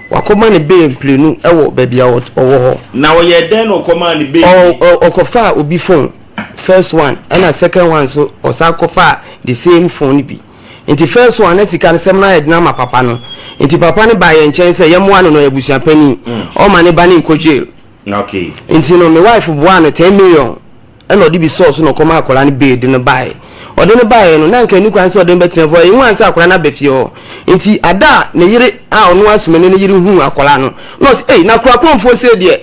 Wɔkɔma no bail mprenu wɔ baabi a ɔwɔ hɔ. Na ɔyɛɛ dɛn na ɔkɔmaa no bail bio? Ɔ, ɔ, ɔkɔfaa obi phone, first one, ɛna second one nso, ɔsan kɔfaa the same phone no bi. Nti first one, na sika no sɛm no ayɛ den ama papa no. Nti papa no baa yɛn nkyɛn sɛ yɛmmoa no na ɔyɛ abusua panin, ɔmma ne ba no nnkɔ jail. Okay. Nti no, me wife boaa no ten million ɛna ɔde bi sɔɔ so na ɔkɔma akwadaa no bee de no baeɛ ɔde no baeɛ no na nka ɛni kwan sɛ ɔde no bɛtena fie ɛyɛ hu ansa akwadaa no aba fie hɔ nti ada a ne yere a ɔno asomani ne yere huu akwadaa no na ɔsɛ ei na kora kuromfoɔ sɛ deɛ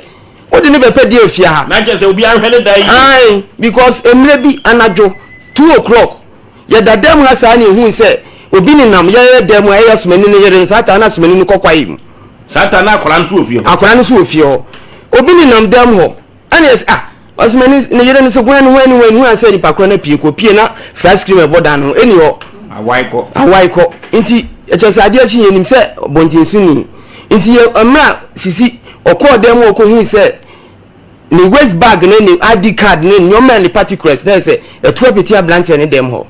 wode ne bɛpɛ deɛ afie ha na kyɛ sɛ obi ahwɛ ne da yi ae because mmerɛ bi anadwo two o'clock yɛda dɛm ha saa ne ɛhu sɛ obi ne nam yɛyɛ dɛm a ɛyɛ asomani ne yere no saa taa no asomani no kɔkwae mu saa taa no akwadaa no so wɔ fie hɔ akwadaa no so wɔ fie hɔ obi ne nam dɛm hɔ Ɛna yɛsɛ ah ɔsɛ mɛ ne yere no sɛ hwan hwan ne hwan hwan sɛ nipa korɔ no pie kɔ pie na flash cream ɛbɔ dan no ho ɛni hɔ awae kɔ awae kɔ nti ɛkyɛ sɛ adeɛ kyi yɛnim sɛ bɔnten so ni nti yɛ mmerɛ sisi ɔkɔɔ dan mu ɔkɔ hui sɛ ne waist bag ne ne id card ne nneɛma ne particulars na yɛ sɛ ɛtoa pete aberanteɛ ne dɛm hɔ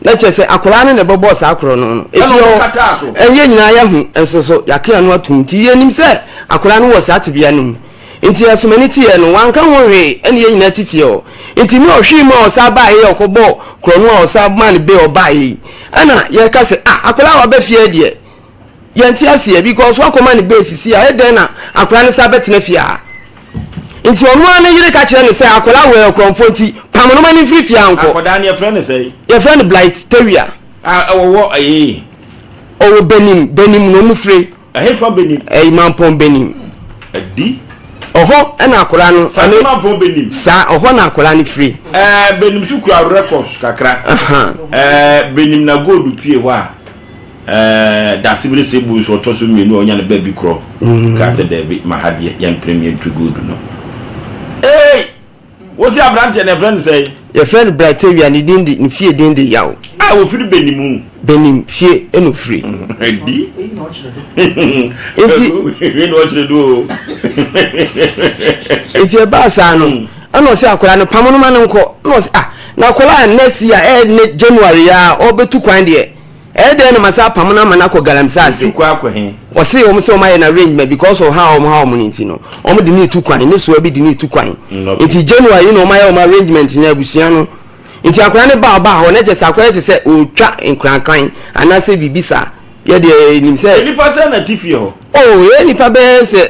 na kyerɛ sɛ akwadaa no na ɛbɛbɔ saa korɔ no no ɛfie hɔ ɛyɛ nyinaa yɛho nso so yɛakea no atom nti yɛnim sɛ akwadaa no wɔ saa tebea no mu nti ɛsomani teɛ no wanka ho hwee ɛne yɛ nyinaa te fie hɔ nti ne ɔhwee mu a ɔsaa baa yɛ ɔkɔbɔ korɔ no a ɔsaa maa no bɛ ɔbaa yɛ yi ɛna yɛka sɛ ah akwadaa waba fie deɛ yɛnte aseɛ because wakɔma ne bɛɛ sisi a ɛdɛn na akwadaa no sa bɛtena fie a nti ɔno ara ne yere ka kyerɛ ne sɛ akwadaa wɔ ɛkorɔmfoɔ nti pam no ma ne mfiri fie ankɔ akwadaa no yɛfrɛ no sɛ yɛfrɛ no blight tawia ɔwɔ ɛyɛ ɔwɔ benim benim na ɔmu fire ɛhefa benim ɛyi mampɔn benim ɛdi ɔhɔ ɛna akwadaa no sase mampɔn benim saa ɔhɔ na akwadaa no firi ɛɛ benim so kura records kakra ɛɛ benim na gold pie hɔ a Ɛɛ Dasebire Sebu nso ɔtɔ so mmienu a ɔnya ne baabi korɔ kaa sɛ daabi ma ha deɛ yɛn mpere mmienu to good no. Eei! Wosi abranteɛ no yɛfrɛ no sɛn? Yɛfrɛ no Brightavia, ne din de, ne fie din de Yaw. A ofiri Benimu. Benim fie na ofiri. Ɛdi. Nti. Wei na ɔkyerɛ do o. Nti ɛbaa saa no. Ɛna ɔse akwadaa no pamo no ma no nkɔ na ɔse ah na akwadaa next year ɛyɛ ne January ya ɔbɛtu kwan deɛ ɛyɛ dɛn na masa apamo no ama no akɔ galamsey ase. Ɔtu kwan akɔ he? Ɔse wɔn sɛ wɔn ayɛ no arrangement because of how wɔn ha wɔn no nti no wɔn de no retu kwan ne soa bi de no retu kwan nti January na wɔn ayɛ wɔn arrangement na abusua no nti akwadaa no ba ɔbaa hɔ na kyɛ sɛ akwadaa kyɛ sɛ ɔretwa nkorankan anaasɛ biribi saa yɛdeɛ nim sɛ. Nipa sɛ na ti fie hɔ. Oh ɛyɛ nipa bɛyɛ sɛ.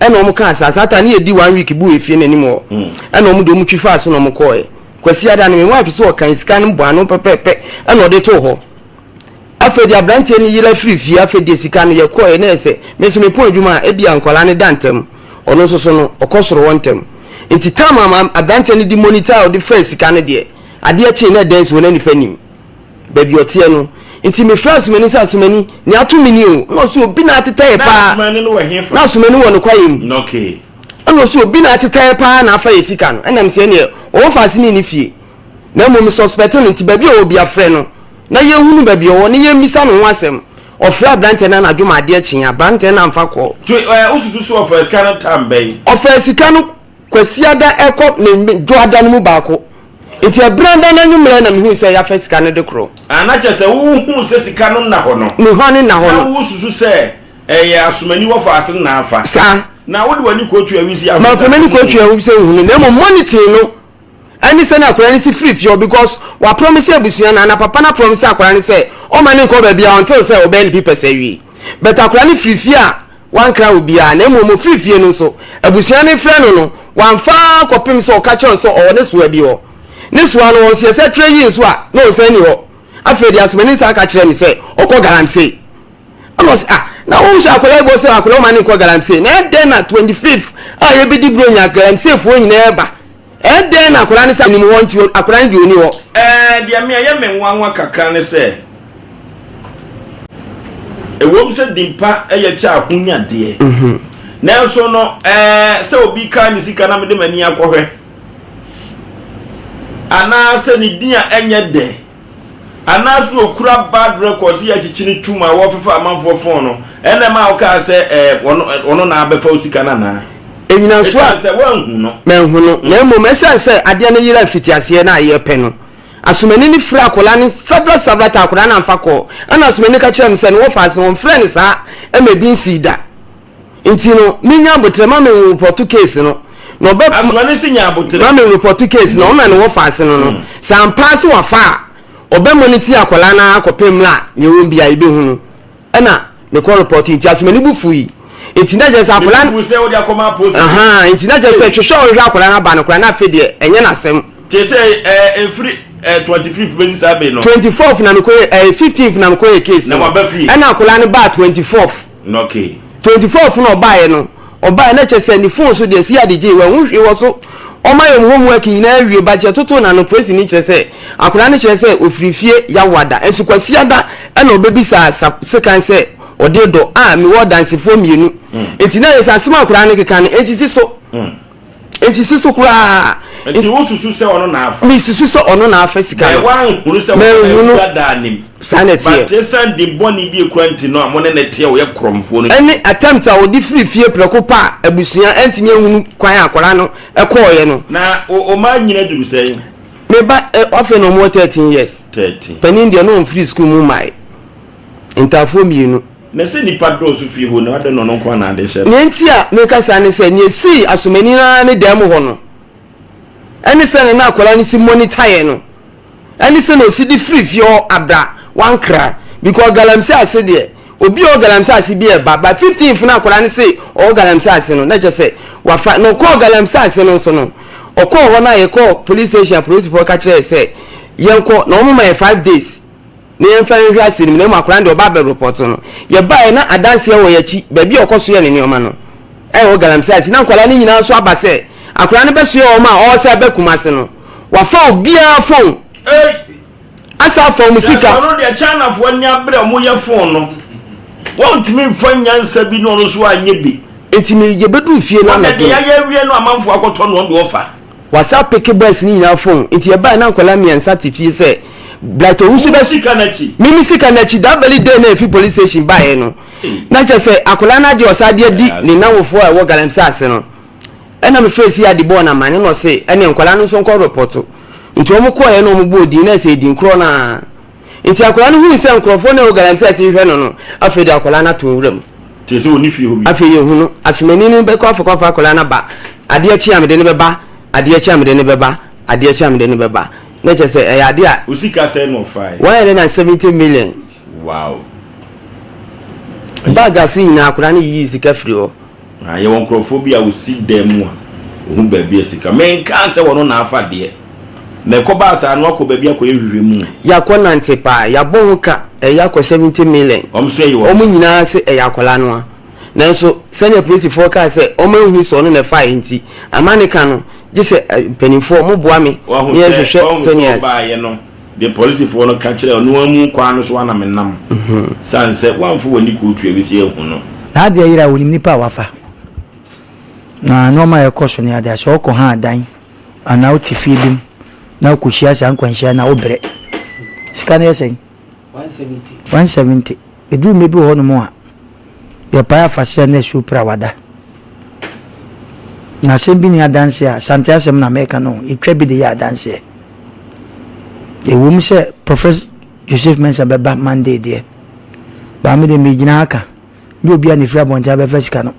ɛna wɔn kaa saa saa taa ne yɛ di one week bu efie n'anim hɔ ɛna wɔn de wɔn twi faa so na wɔn kɔɔɛ kwasi ada no mi wɔn afi so ɔkan sika no bɔ ano pɛpɛɛpɛ ɛna ɔde to hɔ afei de aberanteɛ no yera firi fie afei de sika no yɛ kɔɔɛ na ɛsɛ me nso me pɔn adwuma a ebi a nkwadaa no da ntɛm ɔno nso so no ɔkɔ soro hɔ ntɛm nti taama aberanteɛ no di monitor a ɔde fɛ sika no deɛ adeɛ kyee na ɛdɛn so na nipa nim. baabi ɔteɛ no. Nti me frɛ asomani sɛ asomani nea ato me ni o. Ɛna ɔsi obi na atetɛɛ paa. Na asomani no wɔ hefa? Na asomani wɔ ne kwaeɛ mu. Na okay. Ɛna ɔsi obi na atetɛɛ paa na afa yɛ sika no. Ɛna me sɛ ɛneɛ ɔwɔ faase ne ne fie. Na mmom me suspect no nti baabi a ɔwɔ bia frɛ no na yɛn hunu baabi ɔwɔ na yɛn mmisa ne ho asɛm. Ɔfrɛ aberanteɛ no anadwo ma adeɛ kyee. Aberanteɛ no amfa call. Nti wosusu sɛ ɔfaa sika no time bɛn? Ɔfaa sika no. Kwasiada kɔ ne dwoada no mu baako. Nti ɛberanda no anwummerɛ na mehui sɛ yɛafa sika no de koro. Ah, na kyerɛ sɛ wohuu sɛ sika no nna hɔ no. Ne hɔ ne nna hɔ no. Na wosusu sɛ ɛyɛ asomani wɔfa ase no na afa. Saa. Na wode w'ani kɔɔ Tuawise ahunu sɛ nhunu no. Mamfa m'ani kɔɔ Tuawise nhunu no, na mmom moniting no. ɛne sɛnea akwadaa no si firi fie hɔ because waprɔmise abusua no anaa papa no aprɔmise akwadaa no sɛ ɔmma no nkɔ baabiara until sɛ ɔbɛyɛ ne papers awie. But akwadaa no firi fie a wankra obiara na mmom ɔfiri fie no nso abusua no frɛ no no wamfa ara kɔpem sɛ ɔka kyerɛ no sɛ ɔwɔ ne soa bi hɔ. Ne soa no wɔ nso yɛsɛ trɛ yii nso a na ɔsan nni hɔ. Afei deɛ Asomani san ka kyerɛɛ me sɛ ɔkɔ Galamsey. ɛna ɔsɛ ah na wɔn hyɛ akwadaa bɔ sɛ akwadaa ɔma ne nkɔ galamsey na ɛdɛn na twenty fifth a yɛbɛdi buro nya galamseyfoɔ nyinaa ɛba ɛdɛn na akwadaa ne sɛ anim hɔ nti akwadaa ne deɛ ɔni hɔ. ɛɛ deɛ mi ɛyɛ mi nwanwa kakra ne sɛ ɛwɔm sɛ dimpa ɛyɛ kyɛ ahonya deɛ mhm. nanso no ɛɛ sɛ obi kaa ne sika na mede m'ani akɔhwɛ anaasɛ ne din a ɛnyɛ dɛ Anaaso okura bad record sɛ yɛakyekye no tum a wɔfefa amanfoɔ fon no ɛna ɛma wokaa sɛ ɛɛ ɔno na abɛfa wo sika no anaa? Ɛnyinasoɔ a, ɛsiane sɛ woanhu no. Manhu no, na mmom ɛsiane sɛ adeɛ no yeraa mfitiaseɛ na ayɛ pɛ no, Asomani no firaa akwadaa no several several times, akwadaa no amfa kɔɔ, ɛna Asomani no ka kyerɛɛ me sɛ ne wɔfa ase, wɔmfrɛɛ no saa ma ebi nsii da. Nti no me nya aboterɛ ma me nropɔto case no na ɔbɛ ma me nropɔto case na ɔma ne wɔfa ase no no mm. sɛ ampaa sɛ wafa a ɔbɛ mɔ ne ti akwadaa no ara kɔpɛ mmerɛ a nea ɛwɔ bi a yɛbɛhu no ɛna ne kɔ repɔto nti asomani bu fu yi nti na kyerɛ sɛ akwadaa no nti na kyerɛ sɛ hwehwɛ ɔhwehwɛ akwadaa no aba no koraa na afei deɛ ɛnyɛ n'asɛm. kyerɛ sɛ ɛɛ efiri ɛɛ twenty fifth bɛ sisan bɛ yen nɔ. twenty fourth na mi ko ye ɛɛ fifteenth na mi ko ye case. na wa bɛ fi. ɛna akwadaa no baa twenty fourth. Nɔke. Twenty four fo na ɔbaeɛ no ɔbaeɛ na kyɛ sɛ ne phone so deɛ si adegye wɔ ɛho hwee wɔ so ɔma yɛn homework nyinaa awie but yɛtotoo no ano praise ni kyerɛ sɛ akwadaa no kyerɛ sɛ ɔfiri fie yawada nso kwasiada ɛna ɔbɛbisaa sa sekan sɛ ɔde dɔ a mewɔ dansefoɔ mmienu nti na yɛ sɛ asɛm akwadaa no keka no ɛnsisi so. Mm. Enti si so koraa. Enti wosusu sɛ ɔno na afa. Mesusu sɛ ɔno na afa sika no. Wɔanhunu sɛ wɔbɛhunu daa nim. Saa na ɛteɛ. But esiane din bɔne bi ekura nti no a mo ne no teɛ ɔyɛ korɔmfoɔ no nti. Ɛne attempt a ɔde firi fie prɛko pɛ a abusua antumi ahunu kwan a akwadaa no kɔɔeɛ no. Na wɔn mma nyini aduru sɛn? Me ba afei na wɔwɔ thirteen years. Thirteen. Panin deɛ na ɔmfiri sukuu mu mmae. Ntaafoɔ mmienu. Na sɛ nnipa dɔɔso fie hɔ no, adɛn na ɔno nko ara na ade hyɛ no? Nea enti a mereka saa ne sɛ, nea esii asomani no ara ne dan mu hɔ no, ɛne sɛnea na akwadaa no si monitaeɛ no, ɛne sɛnea ɔsi de firi fie hɔ abra wankra. Because galamsey ase deɛ, obi a ɔwɔ galamsey ase bi reba, but 15th na akwadaa no se ɔwɔ galamsey ase no, na kyerɛ sɛ wafa. Na ɔkɔɔ galamsey ase no nso no, ɔkɔɔ hɔ no a yɛkɔɔ police station a polisifoɔ ka kyerɛɛ yɛ sɛ yɛnkɔ, na wɔma yɛn five days. Ne yɛmfa nhwɛ ase no mu na mmom akwadaa no deɛ ɔba abɛ report no yɛbaeɛ na adanseɛ wɔ yɛakyi baabi a ɔkɔ so yɛ ne nneɛma no ɛwɔ galamsey ase na nkwadaa no nyinaa nso aba sɛ akwadaa no bɛsoɛ wɔn a ɔresa bɛ kumase no wafa obiara fon asa afa wɔn sika. yasɔ no deɛ chinafoɔ ani abere wɔn yɛ fon no wɔn ntumi nfa nyansa bi na ɔno nso anyɛ bi. nti mi yɛ bɛ du fie na mɛ de. wɔn de yɛ yɛ wie no amanfoɔ akɔtɔ no wɔn de ɔfa. Wasa peke boys no nyinaa fon nti yɛbae na nkwadaa mmiɛnsa te fie sɛ Bright Owusu bɛ mimi sika n'akyi that very day na efi police station baeɛ no na kyɛ sɛ akwadaa no agye ɔsa ade adi ne nanwofoɔ a ɛwɔ galamsey ase no ɛna me fɛ si ade bɔɔ na mane na ɔse ɛne nkwadaa no nso nkɔ repɔto nti wɔn kɔɔɛ na wɔn bɔɔ din na ɛsɛ edin korɔ naa. Enti akwadaa no hui sɛ nkurɔfoɔ no a ɛwɔ Galanti ase rehwɛ no no, afei de akwadaa no ato nwura mu. Kyerɛ sɛ ɔnni fie hɔ bio. Afei yɛhu no. Asomani no bɛkɔ afakɔafa akwadaa no aba. Adeɛ kye a mede no bɛba, adeɛ kye a mede no bɛba, adeɛ kye a mede no bɛba. Na kyerɛ sɛ ɛyɛ adeɛ a. Wo sika sɛn na ɔfaeɛ? One hundred and seventy million. Wow! Bag ase nyinaa, akwadaa no yiyii sika firii hɔ. Na yɛwɔ nkurɔfoɔ bi a wɔsi dan mu a wɔhu baabi a sika. Menkaa sɛ wɔno na afa deɛ. Na ɛkɔbaa saa no, wɔakɔ baabi akɔyɛ nhwehwɛmu. Yɛakɔnante paa. Yɛabɔ ho ka, ɛyɛ akɔ seventy million. Wɔn nso ayi wɔn. Wɔn nyinaa se ɛyɛ akwadaa no ara. Nanso sɛdeɛ apolisifoɔ kaa sɛ wɔanhunu sɛ ɔno na ɛfaeɛ nti, amaneka no, gye sɛ mpanimfoɔ, moboa me na yɛnhwehwɛ sɛdeɛ. Wɔahu sɛ, wɔahu sɛ ɔbaeɛ no. de polisifo no ka kyerɛ ɔno ara mu kwan no so ara na menam, sane sɛ woamfa w'ani kootu a ɛbɛsi ahu no. Na adeɛ yera a, ɔnim nipa a wafa. Na nnoɔma a ɛkɔ so ne adeɛ a, sɛ ɔkɔ ha adan anaa wote fie bi mu na wokɔhyia saa nkwanhyia no a, wobrɛ. Sika no yɛ sɛn? 170. 170. Ɛduru mmɛ bi wɔ hɔnom a, yɛpae afahyɛ ne asuo pira wada. Na asɛm bi nni adanseɛ a, Asante asɛm na meka no, yɛtwa bi de yɛ adanseɛ. Ɛwɔ mu sɛ Prophet Joseph Mensah bɛba Monday deɛ, but me deɛ megyina ha ka, nyɛ obiara na ɛfiri abɔnten abɛfa sika no.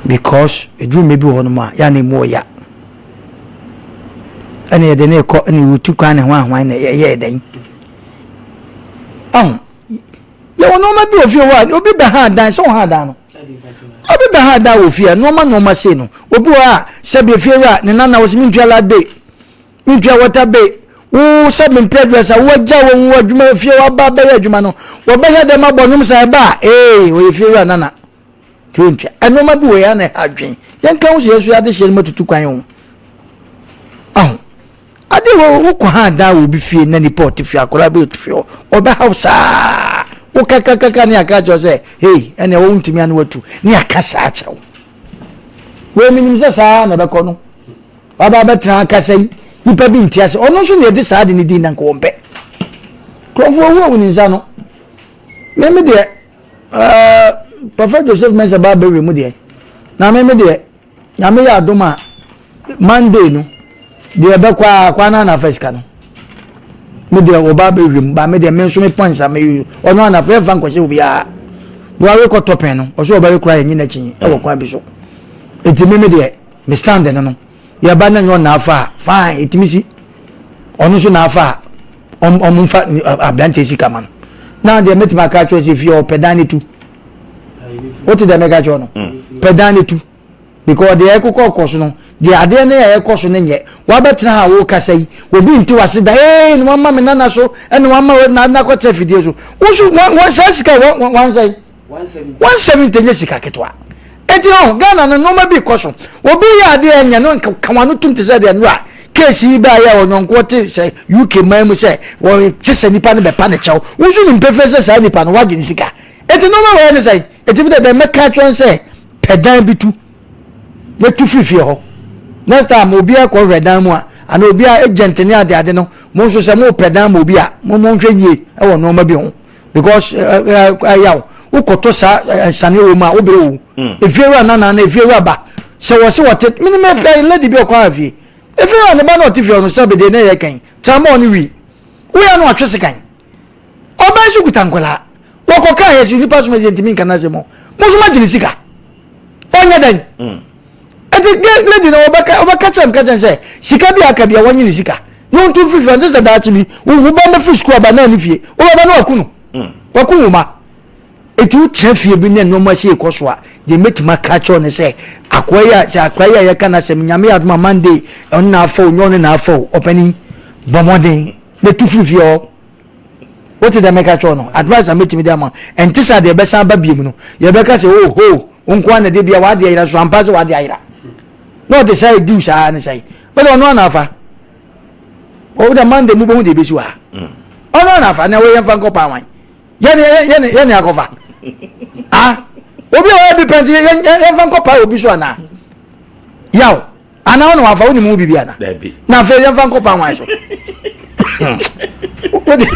Because ɛduru mmɛ bi wɔ hɔnom a, yɛ a na ɛmu ɔya. ɛna yɛde no rekɔ ɛna yɛretu kwan ne hwan hwan na yɛyɛɛ dɛn ɔn yɛwɔ nneɛma bi wɔ fie hɔ a obi bɛ ha adan sɛ ɔha adan no obi bɛ ha adan wɔ fie a nneɛma nneɛma sei no obi wɔ a sɛbi efie wura ne nana wɔ sɛ mentua lad bay mentua water bay wo sɛ mempɛ dress a wagya wɔ wo adwuma fie waba bɛyɛ adwuma no wɔbɛhwɛ dɛm abɔ nnwom sɛ ɛba a ee ɔyɛ fie wura nana nti yɛntwa nneɛma bi wɔ yɛn na ɛha adwen yɛnka ho sɛ yɛn so yɛadehyeɛ no matutu kwan ho aho ade wɔ wokɔ ha daa wɔ obi fie na nipa ɔte fie akwadaa bi ɔte fie hɔ ɔbɛhaw saa wokakakaka ne aka kyerɛ sɛ hei ɛnna ɛwɔ wontumi ano atu ne aka saa kyerɛ wo wei menim sɛ saa na ɛbɛkɔ no waba bɛtena akasa yi nipa bi nti ase ɔno nso na yɛde saa de ne din na nkɔwɔmpɛ kurɔfoɔ wu a wɔn nsa no mɛmi deɛ Ɛɛ Prɔfɛt Joseph Mensah baa bɛwɛ mu deɛ, na me me deɛ, nyame yɛ adom a, Monday no, deɛ ɛbɛkɔ a, kwan no anafa sika no. Me deɛ ɔbaa bɛwɛ mu, baa me deɛ me nso me pɔn nsa, me ɔno anafa yɛ nfa nkɔhyɛ obiara. Wɔawe kɔ tɔpɛn no, ɔsɛ ɔbɛwe koraa yɛ nye n'akyi ɛwɔ kwan bi so. Eti me me deɛ, me stand no no, yɛ ba na nyɛ ɔna afa a fine etimi si ɔno nso na afa a ɔm ɔm nfa aberanteɛ sika ma no na deɛ mɛtumi aka akyerɛ sɛ fie ɔpɛ dan ne tu wote deɛ mɛka kyerɛ no mm. pɛ dan ne tu because deɛ ɛkokɔ kɔ so no deɛ adeɛ no yɛ ɛkɔ so no nyɛ wabɛtena ha wokasa yi obi nte wase da ee ne wama me nana so ɛne wama nakɔtena fidie so woso wɔn saa sika wɔn wɔn ansɛn. one seventy nye sika ketewa eti ɔn ghana no nneɛma bi kɔ so obi yɛ adeɛ ɛnyɛ no nka wɔn ano tum te sɛ deɛ no a keesi yi baa yɛ ɔnyɔnkoɔ te sɛ uk man mu sɛ wɔkye sɛ nipa no bɛpa ne kyɛw wosu ne mpefee sɛ saa nipa no wagye ne sika eti nneɛma wɔ yɛ ne sɛ eti bi dɛ dɛ mɛka atwɛn sɛ pɛ dan bi tu na tu firi fie hɔ next time obi akɔ hwɛ dan mu a ana obi a agent ne ade ade no mo nso sɛ mo pɛ dan mu obi a mo mo nhwɛ yie ɛwɔ nneɛma bi ho. because ɛyaw wokɔtɔ saa nsane wɔ mu a wobere wo efiewura nana na efiewura ba sɛ wɔse wɔte mene me fɛ lady bi ɔkɔ afie efiewura ne ba na ɔte fie ɔno sɛ bede na ɛyɛ kan tramɔ ɔne wi woyɛ no atwe se kan ɔbɛn so kuta nkwadaa wɔkɔ kaa yɛ si nipa so ma yɛ ntumi nka n'asɛm mo so ma gyina sika ɔnyɛ dɛn. ɛti gɛ lady na ɔbɛka ɔbɛka kyɛm ka kyɛn sɛ sika bi aka bi a wɔnye ne sika na wɔn tu fifiri ɔnte sɛ daakye bi wohu ba mɛ firi sukuu aba naa ne fie wɔbɛba na waku no waku wɔn ma ɛti wokyerɛ fie bi ne nneɛma si ekɔ so a deɛ mɛtumi aka kyɛw ne sɛ akoa yi a sɛ akoa yi a yɛka na sɛm nyame adoma monday ɔne na afa o nyɛ ɔne na afa o ɔpɛni bɔmɔden na tu firi fie hɔ. Wote deɛ meka kyerɛ wo no? Advice a mɛtumi de ama ɛnte sɛ adeɛ bɛsan ba biom no. Yɛbɛka sɛ oh ho, wo nko ara na ɛde bia w'adeɛ ayera so ampa sɛ w'adeɛ ayera. Na ɔde saa ɛdiw saa ne sɛe. Wode ɔno ana afa? Wode Monday mu bɛhu deɛ ɛbɛsi wɔ ha. Ɔno ana afa na wɔyɛ mfa nkɔ paa wan. Yɛne akɔfa. Ah, obi a ɔyɛ bi pɛnti yɛmfa nkɔ paa obi so anaa? Yaw. Ana ɔna wafa wonim wo bibi ana? Dabi. Na afei yɛmfa nkɔ pan wan so. Wode.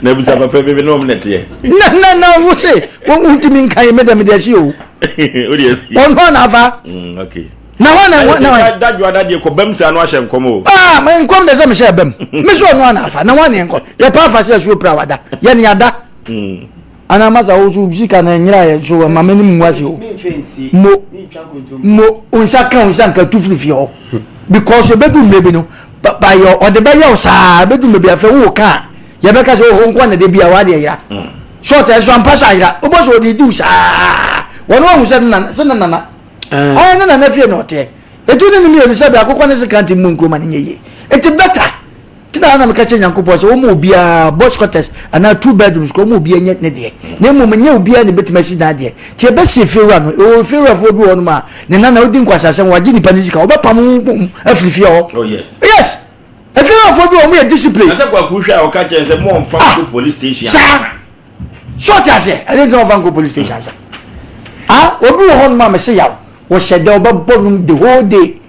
Na bisa papa bibi na ɔmo nɛteɛ. Na na na wo se wontumi nka yi meda mede asi o. Wode asi. Ɔno na afa. Mm, okay. Na hɔ na hɔ na hɔ. Dadwo adadeɛ kɔ bɛm sɛ ano ahyɛ nkɔm o. Aa ma nkɔm de sɛ mehyɛ bɛm. Me so ɔno na afa na hɔ na nkɔm. Yɛ pa afa sɛ asuo pira wada. Yɛ ne ada. Mm. anaa masa wo so sika na ɛnyera yɛ so ɛma me ne mu ase o mo mo nsa ka nsa nka tu firi fie hɔ because ebedu mmiri bi no bayɛ ɔde bɛyɛ o saa ebedu mmiri bi afɛ wo ka yɛbɛka sɛ ɔhɔ nkɔ na de bi a wade ɛyera short ɛso ampa so ayera wobɔ so ɔde diw saa wɔn wɔn sɛ nana sɛ nana ɛyɛ ne nana fie na ɔteɛ etu ne ne mmienu sɛ bi akokɔ ne se kanti mu nkuruma ne nye yie eti bɛta. nti na na meka kyerɛ nyankopɔn sɛ wɔma obiara boys quarters anaa two bedrooms kɔ wɔma obiara nyɛ ne deɛ na mmom nyɛ obiara na ɛbɛtumi asi na adeɛ nti ɛbɛsi efiewura no ɛwɔ efiewurafoɔ bi wɔ nom a ne nana wodi nkwasasɛm wagye nipa ne sika wɔbɛpam wo bom afiri fie hɔ oh, yes efiewurafoɔ bi wɔ mo yɛ discipline ah! saa so ɔte aseɛ ɛde ntina ɔfa nkɔ police station sa ah obi wɔ hɔ nom a mese yaw wɔhyɛ dɛ wɔbɛbɔ nom the whole day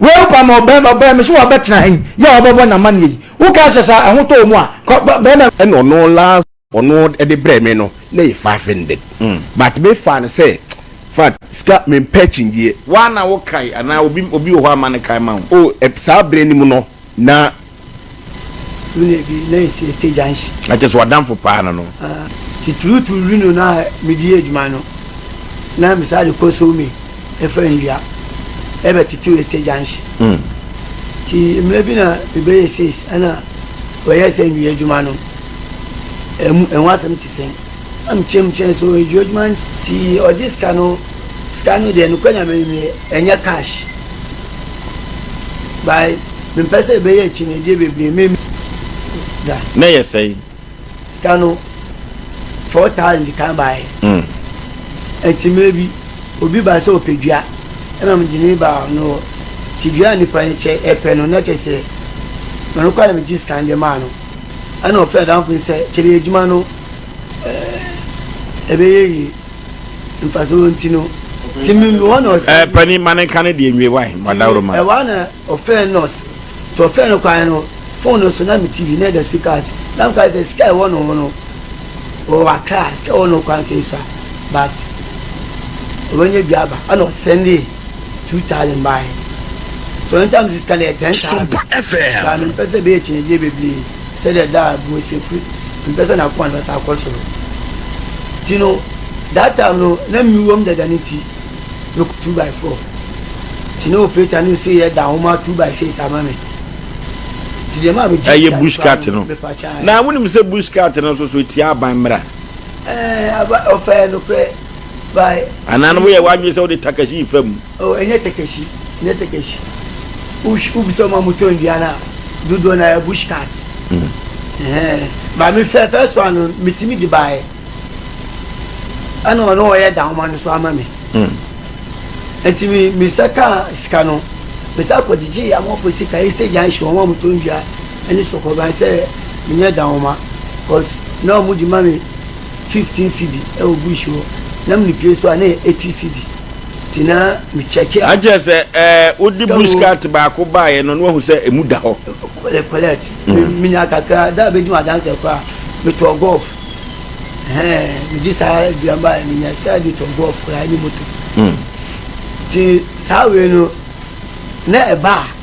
Woampam ɔbarima baa me so wabɛtena ha yi yɛ a wabɛbɔ n'amanneɛ yi. Wokaa sɛ sɛ ɛho tɔ wo mu a, kɔ ba barima. Ɛna ɔno last ɔno de brɛɛ me no na yɛ fa fended but me faa no sɛ fat sika me mpɛ akyingyeɛ. Woa na wo kae anaa obi obi wɔ hɔ a ma no kae ma wo. Oh saa berɛ no mu no na. Lu na ebi na esi stage anhye. Na kyɛ sɛ ɔdamfo paa na no. Ah, titiriwtiriw lu no na mede yɛ adwuma no. Na mesaa de kɔ sow me ɛfa nnua. Ɛbɛ titiriw stage anhye. Mm. Ti mmerɛ bi na mebɛyɛ seis ɛna wɔyɛ sɛ nnua adwuma no. Ɛmu ɛho asɛm te sɛn? Nkyɛnkyɛnso adwuadwuma nti ɔgye sika no sika no deɛ nokora nyame me ɛnyɛ cash by mempɛ sɛ ɛbɛyɛ akyinnyegyeɛ bebree me da. na ɛyɛ sɛe. sika no four thousand kan baeɛ mm. nti mmerɛ bi obi ba sɛ ɔpɛ dua ɛna mede ne ba no ti dua a nipa no kyɛ ɛpɛ no na kyɛ sɛ mɛnokora na megye sika no de maa no Ɛna ɔfrɛɛ adamfo no sɛ, Kyɛrɛ yɛ adwuma no ɛbɛyɛ yie. Mfasoɔ nti no, ti mi hɔ na ɔsɛ. Ɛɛ panin ma ne nka ne deɛ nwie wae ma dawuro ma. Ɛwɔ ana ɔfrɛɛ nɔs. Ti ɔfrɛɛ no kwan no, fon no so na mi TV na ɛda speaker ati. Na mi ka sɛ sika ɛwɔ no ho no, ɔwɔ akra, sika ɛwɔ no kwan kɛyi so a, but ɔbɛnya bi aba. Ɛna ɔsɛndee. two thousand baa he sometimes sika no yɛ ten thousand baa me mpɛ sɛ bɛyɛ kyinagye bebree sɛ dɛ da a bue sɛ firi me mpɛ sɛ na akoma no bɛsa akɔ soro ti no that time no na mi wɔm dada ne ti me kɔ two by four ti ne operator ne nso yɛ da ahoma two by six ama me ti deɛ maa mi gyi ɛyɛ bush cat no na wɔn nim sɛ bush cat no nso so etia aban mmerɛ ɛɛ aba ɔfɛ no pɛ. By. Anaa no woyɛ w'adwene sɛ wode takashi refa mu? Oh, ɛnyɛ takashi, ɛnyɛ takashi. Wohw wobisa wɔn a wɔtɔn nnua no a, dodoɔ no ara ɛyɛ bush cat. Ɛhɛn. Ba mefɛ first one no metumi de baeɛ. Ɛna ɔno ɔyɛ dahoma no nso ama me. Nti me mesa kaa sika no, mesa kɔgyegyee amanfoɔ sika, Eastern Junction, wɔn a wɔtɔn nnua ne sɔkɔban sɛ menyɛ dahoma, cause na wɔde ma me fifteen cedi ɛwɔ bush hɔ na mi nipie so a na yɛ eighty cedi ti na mi kyɛkɛ. akyerɛ sɛ ɛɛ wodi bush cart baako baa yɛ no na wahu sɛ emu da hɔ. kɔlɛ kɔlɛt mi mi nya kakra da a bɛ di wɔn adansɛ kɔ a mi tɔ golf ɛhɛn mi di saa aduan baa yɛ mi nya sika di tɔ golf kura ɛni moto ti saa wei no na ɛbaa.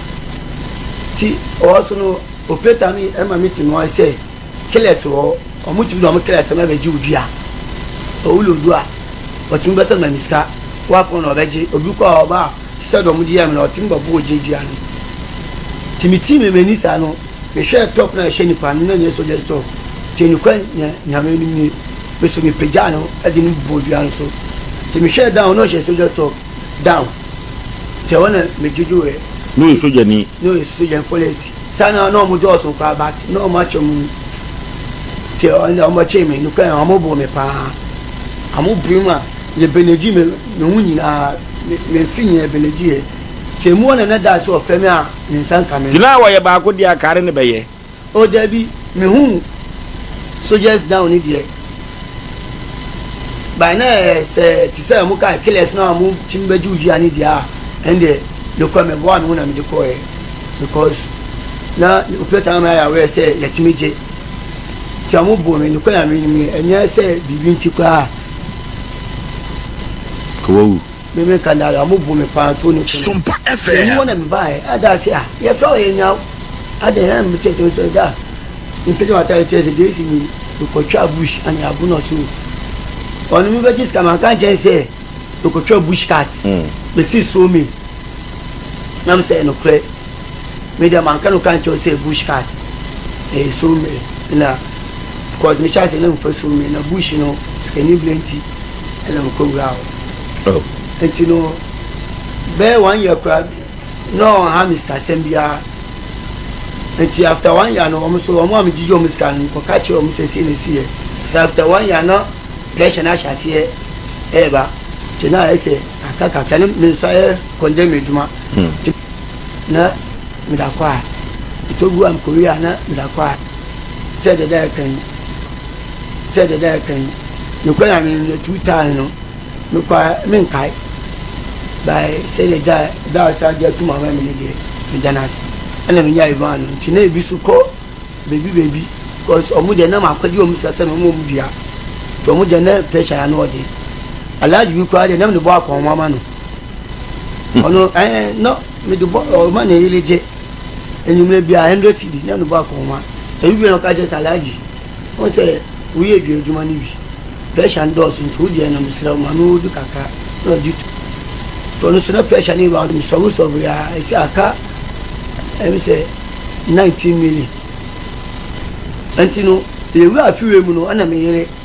Ti ɔwɔ so no operator no ɛma me ti noa sɛ killers wɔ hɔ ɔmo tumi de ɔmo killers ɛma bɛgye odua owu lo odua ɔtumi bɛsɛ ma mi sika wakɔn na ɔbɛgye obi kɔ a ɔba a sisɛ de ɔmo gye yɛ mi na ɔtumi bɔ bo ogye dua no ti mi ti mi mani saa no me hwɛ top na ɛhyɛ nipa no na nyɛ sogya store ti ne kwan nyɛ nyame anim nie me so me pagya no ɛde no bɔ odua no so ti me hwɛ down na ɔhyɛ sogya store. down nti ɛhɔ na medwodwoeɛ. Na ɔyɛ sogyani. Na ɔyɛ sogyani police saa na na wɔn dɔɔso koraa but na wɔn akyɛ mu nti wɔn bɛkyee me nokura na wɔn boo me paa wɔn bui mu a yɛ benegyi me me ho nyinaa me me mfe nyinaa benegyiɛ nti emu hɔ na na dad sɛ ɔfrɛ me a ne nsa nka me. Nti na wɔyɛ baako deɛ a kare ne bɛyɛ. Oh dabi me hu soldiers down ne deɛ by na sɛ te sɛ mo kaa killers na mo tim bɛgye wo dua ne deɛ a ɛndeɛ mekɔ mɛboa me ho na mede kɔɛ because na opɛ taa ma yɛawɛ sɛ yɛtumi gye nti a mo bo me nokɔ nyame nim ɛnyɛ sɛ biribi nti koraa wawu Me me ka nare a mo bu me paa to ne kunu. Sompa FM. Yɛyi wɔn na me ba yɛ ada ase a yɛ fɛ ɔyɛ nyaw ada yɛ me kyɛ kyɛ kyɛ da mpɛgya wata yɛ kyɛ sɛ de esi mi mekɔtwa bush ane abo na so ɔno mi bɛgye sika ma nka nkyɛn sɛ mekɔtwa bush cat hmm. mesi so mi nam sɛ nokorɛ me deɛ manka no ka nkyɛw sɛ bush cat ɛyɛ so mmere na because mehyɛ ase na mfa so mmere na bush no sikani bere nti na mekɔwuraa hɔ. Oh. Nti no, bɛyɛ one year koraa na ɔnha me sikasɛm biara. Nti after one year no, wɔn nso wɔn a megyegye wɔn sika no, mekɔka kyerɛɛ wɔn sɛ sei na ɛsiiɛ. Nti after one year na pressure no ahyɛ aseɛ ɛreba. Nti na ayɛ sɛ kakra kakra ne me nso ayɛ condemn adwuma. Hmm. Nti na meda kɔ a, ɛtɔ gu a mekɔwie a na meda kɔ a. Sɛ dɛdɛ a ɛka yi, sɛ dɛdɛ a ɛka yi. Nokorɛ Nyame no na two times no me kɔ a me nkae by sɛ yɛ gya da a ɔsan gya atum ama me no deɛ me da no ase ɛna me nya Ivan no nti na ebi so kɔ baby baby cause ɔmo deɛ na makɔ gye ɔmo sika sɛ me ɔmo ɔmo dua nti ɔmo deɛ na pressure na ano ɔden alaagye bi koraa deɛ na me de bɔ akɔn ɔmo ama no ɔno ɛɛ na me de bɔ ɔma ne yere gye. enyimire biara hundred cedi na no bo akɔ homa. Edu baabi a na ɔka kyerɛ sɛ Alhaji, wohu sɛ woyɛ dua adwuma no bi, pressure no dɔɔso nti wo deɛ no meserɛ wo ma me odu kakra na ɔde tu. Nti ɔno nso na pressure no yɛ round me sɔbre sɔbre a ɛsɛ aka ɛm sɛ nineteen million. Nti no yɛwura afiwe mu no ɛna me yere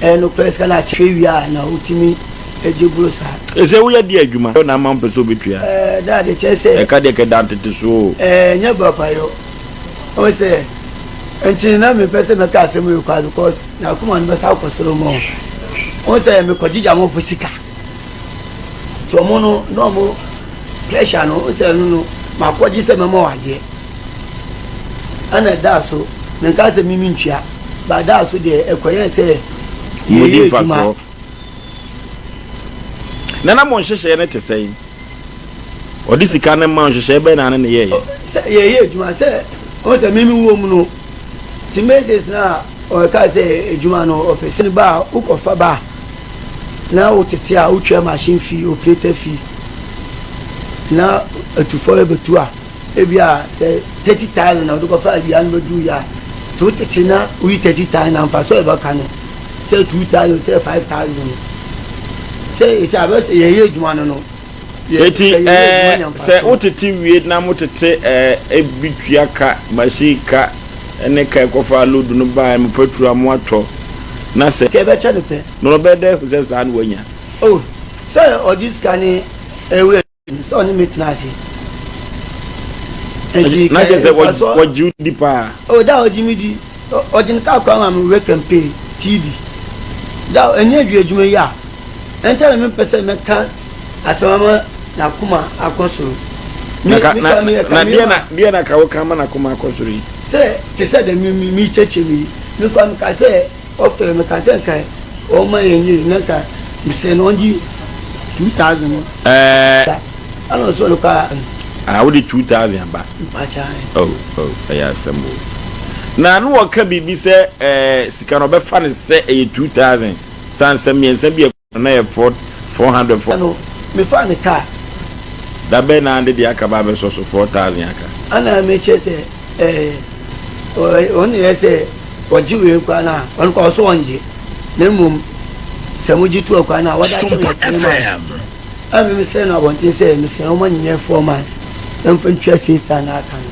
ɛyɛ nokorɛ sika no akyerɛ wie a na wotumi gye boro saa. Ɛsɛ woyɛ deɛ adwuma na ama mpɛ sɛ wobɛtua. Ɛɛ daa deɛ kyerɛ sɛ. Ɛka deɛ kɛda ntete so o. Ɛɛ nyɛ papayɔ. Ɔwɔ sɛ nti na mempɛ sɛ mɛka asɛm yi kwa because na akoma no bɛsa akɔ soro mɔ. Ɔwɔ sɛ mekɔgyegye amɔfo sika. Nti ɔmo no na ɔmo pressure no ɔmo sɛ ɛno no makɔgye sɛ mɛma wɔ adeɛ ɛna ɛdaa so menka sɛ mimi ntua ba ɛdaa so deɛ ɛkɔyɛ sɛ yɛyɛ adwuma nana mo nhyehyɛɛ no te sɛn ɔde sika no ma nhyehyɛɛ bɛn na ne ne yɛyɛ sɛ yɛyɛ adwuma sɛ ɔmo sɛ mimi wɔ mu no ti meses na ɔka sɛ adwuma no ɔpɛ sɛ ba a wokɔfa ba a na wo tete a wo twa machine fee operator fee na atufo ɛbɛtu a ebi a sɛ thirty thousand na ɔde kɔfa awia no bɛduru yɛ a te wo tete na woyi thirty thousand na mfa so ɛbɛka no sɛ two thousand sɛ five thousand sɛ ɛsɛ abɛsɛ yɛyɛ adwuma no no Eti ɛɛ sɛ wotete wie na motete ɛɛ ebi tua ka, machine ka ɛne ka ɛkɔfa load no ba ɛmo petrol a moatɔ na sɛ. Ka ɛbɛkyɛ no pɛ. No ɔbɛyɛ dɛ ehu sɛ saa na wanya. Oh sɛ ɔgye sika ne ɛwura no sɛ ɔne me tena ase. Eti ka ɛɛ nfa so. Na kyɛ sɛ ɔgye wo di paa. Oh da ɔgye me di. Ɔgye ne kar koraa ma me wura kan pay TV da a ɛnyɛ dwi adwuma yi a ɛnta na mempɛ sɛ mɛka asɛm ama n'akoma akɔ soro. Na ka na na deɛ na deɛ na ka woka ama n'akoma akɔ soro yi. Sɛ te sɛ dɛ me me mekyerɛkyerɛ me yi me koraa meka sɛ ɔfɛ meka sɛ nka ɔma yɛn yie na nka mesɛ no ɔngye two thousand. Ɛɛ. Ana ɔsɔ no paa. Ah, wode two thousand aba. Oh, oh, ɛyɛ asɛm o. Na ano wɔka biribi sɛ eh, sika no ɔbɛfa no sɛ ɛyɛ two thousand. Saa nsɛm mmiɛnsa bi a ɛkɔ na yɛ four four hundred four. Ano mefa ne kaa. Dabɛn na ande deɛ aka ba abɛsɔ so four thousand aka. Ana mekyerɛ sɛ eh, ɔne yɛ sɛ ɔgye wei kora no a, ɔno kora ɔsɔ ɔngye. Na mmom sɛ mogye tu akora no a, wɔde akyɛ me ɛtene ma. A me me srɛ no abɔnten sɛ me srɛ wɔn ma no nyɛ four months na me fa ntwa siesta a na aka no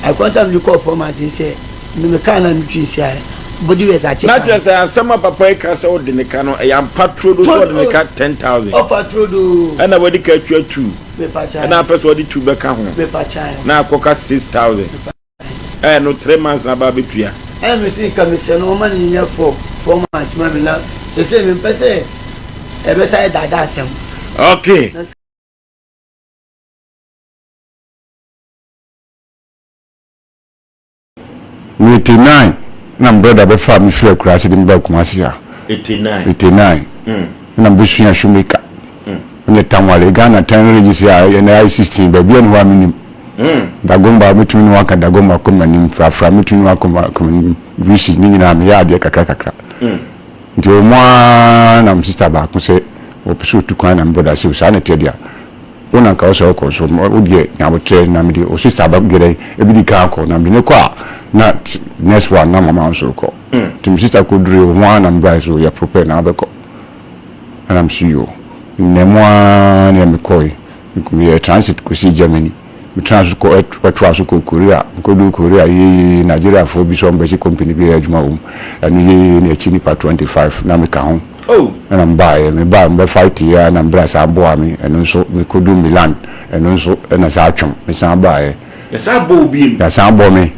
I contact me de kɔɔ four months yi sɛ me me kaa na me twi nsi ayɛ body wears akye kan. Na kyerɛ sɛ asɛm a papa yi ka sɛ ɔde ne ka no ɛyɛ ampa turodo sɛ ɔde ne ka ten thousand. Ɔfa turodo o. Ɛna wadi ka atwa two. Me pa kyae. Ɛna apɛ sɛ ɔde two bɛka ho. Me pa kyae. Na akɔ ka six thousand. Ɛɛ no three months na aba abɛtua. Ɛɛ me se nka me sɛ no ɔma no nyɛ four four months ma me na sesei me mpɛ sɛ ɛbɛsa yɛ daadaa asɛm. Okay. Me eighty nine na me brother bɛ faa me firi Akurase de me baa Kumase ha. Eighty nine. Eighty nine. Mm. Ɛna me bɛ sua shoemaker. Meyɛ Tamale, Ghana Tɛnn Registry a ɛyɛ na ayɛ 16, baabiara nni hɔ a mennim. Dagomba, mɛtumi ne wo aka Dagomba kɔ m'anim, Frafra, mɛtumi ne wo akɔ m'anim, Brusi, ne nyinaa meyɛ adeɛ kakra kakra. Nti wɔn ara na me sista baako sɛ ɔpɛ sɛ ɔtu kwan na me brɔda sɛ saa na ɛteɛ deɛ a, wo na nka wo sɛ wokɔ nso wo deɛ nya aboterɛ na mede wo sista ba deɛ dɛn ɛbɛdi kan akɔ na mede no kɔ a na next one na mama wo nso wokɔ. Nti me sista kɔdurui wɔn ara na me brɔda sɛ yɛ prepare na wobɛkɔ. ɛna me so yoo nnɛ mu ara ne a mekɔe meyɛɛ transit kɔsii Germany metraa so kɔ ɛtoa so kɔ Korea mekɔduu Korea yeye Nigeriafoɔ bi sɛ wɔn bɛsi company bi yɛ adwuma wom ɛno yeye ne akyi nipa 25 na meka ho ɛna mebaeɛ mebaeɛ mobɛ fight yɛ na mbrɛ saa boa me ɛno nso mekɔduu Milan ɛno nso ɛna saa twam mesan baeɛ yɛsan bɔɔ me.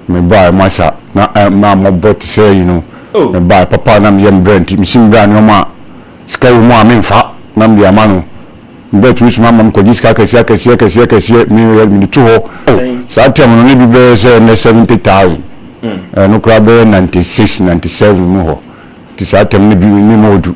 Me bae masa na na mmɔbɔ te sɛ ayi no. Me bae papa a na meyɛ me bra nti, mesi me bra nneɛma a sika wɔ mu a memfa na mede ama no. Me ba tumi soma ma mekɔgye sika akɛseɛ akɛseɛ akɛseɛ akɛseɛ me yɛ mede to hɔ. Oh, saa term no na bi bɛyɛ sɛ nnɛ seventy thousand. Ɛno koraa bɛyɛ ninety six, ninety seven mu hɔ. Nti saa term no bi ne ma ɔdu.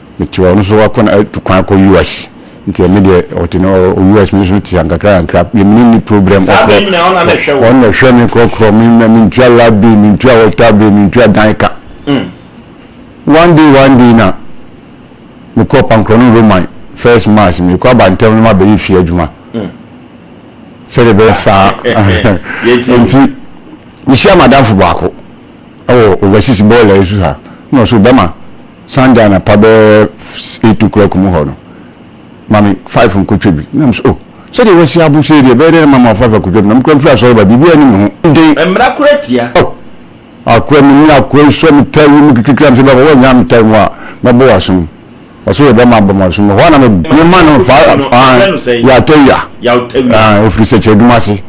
Mete hɔ ɔno nso wakɔ na atu kwan akɔ US nti ɛno deɛ ɔte no ɔ US me nso te ha nkakra nkakra me ne no nni problem Saa bɛn nyinaa ɔno na na ɛhwɛ wo? ɔno na ɛhwɛ me korɔkorɔ me na mentua light bill mentua water bill mentua dan ka one day one day na mekɔɔ Pankorɔno Roman first mass mekɔ aba ntɛm na mabɛyɛ fie adwuma sɛdeɛ ɛbɛyɛ saa Yɛtie wo. nti mehyia m'adamfo baako wɔ overseas bɔɔla yi so ha na ɔse bɛma Sunday anapa bɛyɛ eight o'clock mu hɔ no, ma me five nkotwa bi. Na mese, Oh, sɛdeɛ wasi abo sei deɛ, ɛbɛyɛ dɛn na mama wo five akotwa bi? Na mekura mfiri asɔre ba, biribiara nni me ho den. Mmara koro atia. Oh, akoa, menni akoa yi so a me taa yi mu kekekekra. Mese, Baba, woannyaa me taa yi mu a, mɛbɔ wo asom. Ɔse, Yɛ dɛn ma abɔ me asom? Ɛhɔ ara na mema no, fa, ah, Yawtawia, ah, ɛfiri sɛkyerɛdwuma ase.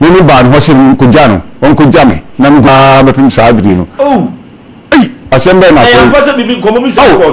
Me ne baa ne hɔ sɛ menkɔgya no, ɔnkɔgya me, na mehu no ara bɛpem saa bere no. Ei! Asɛm bɛn na akɔyɛ? Ao!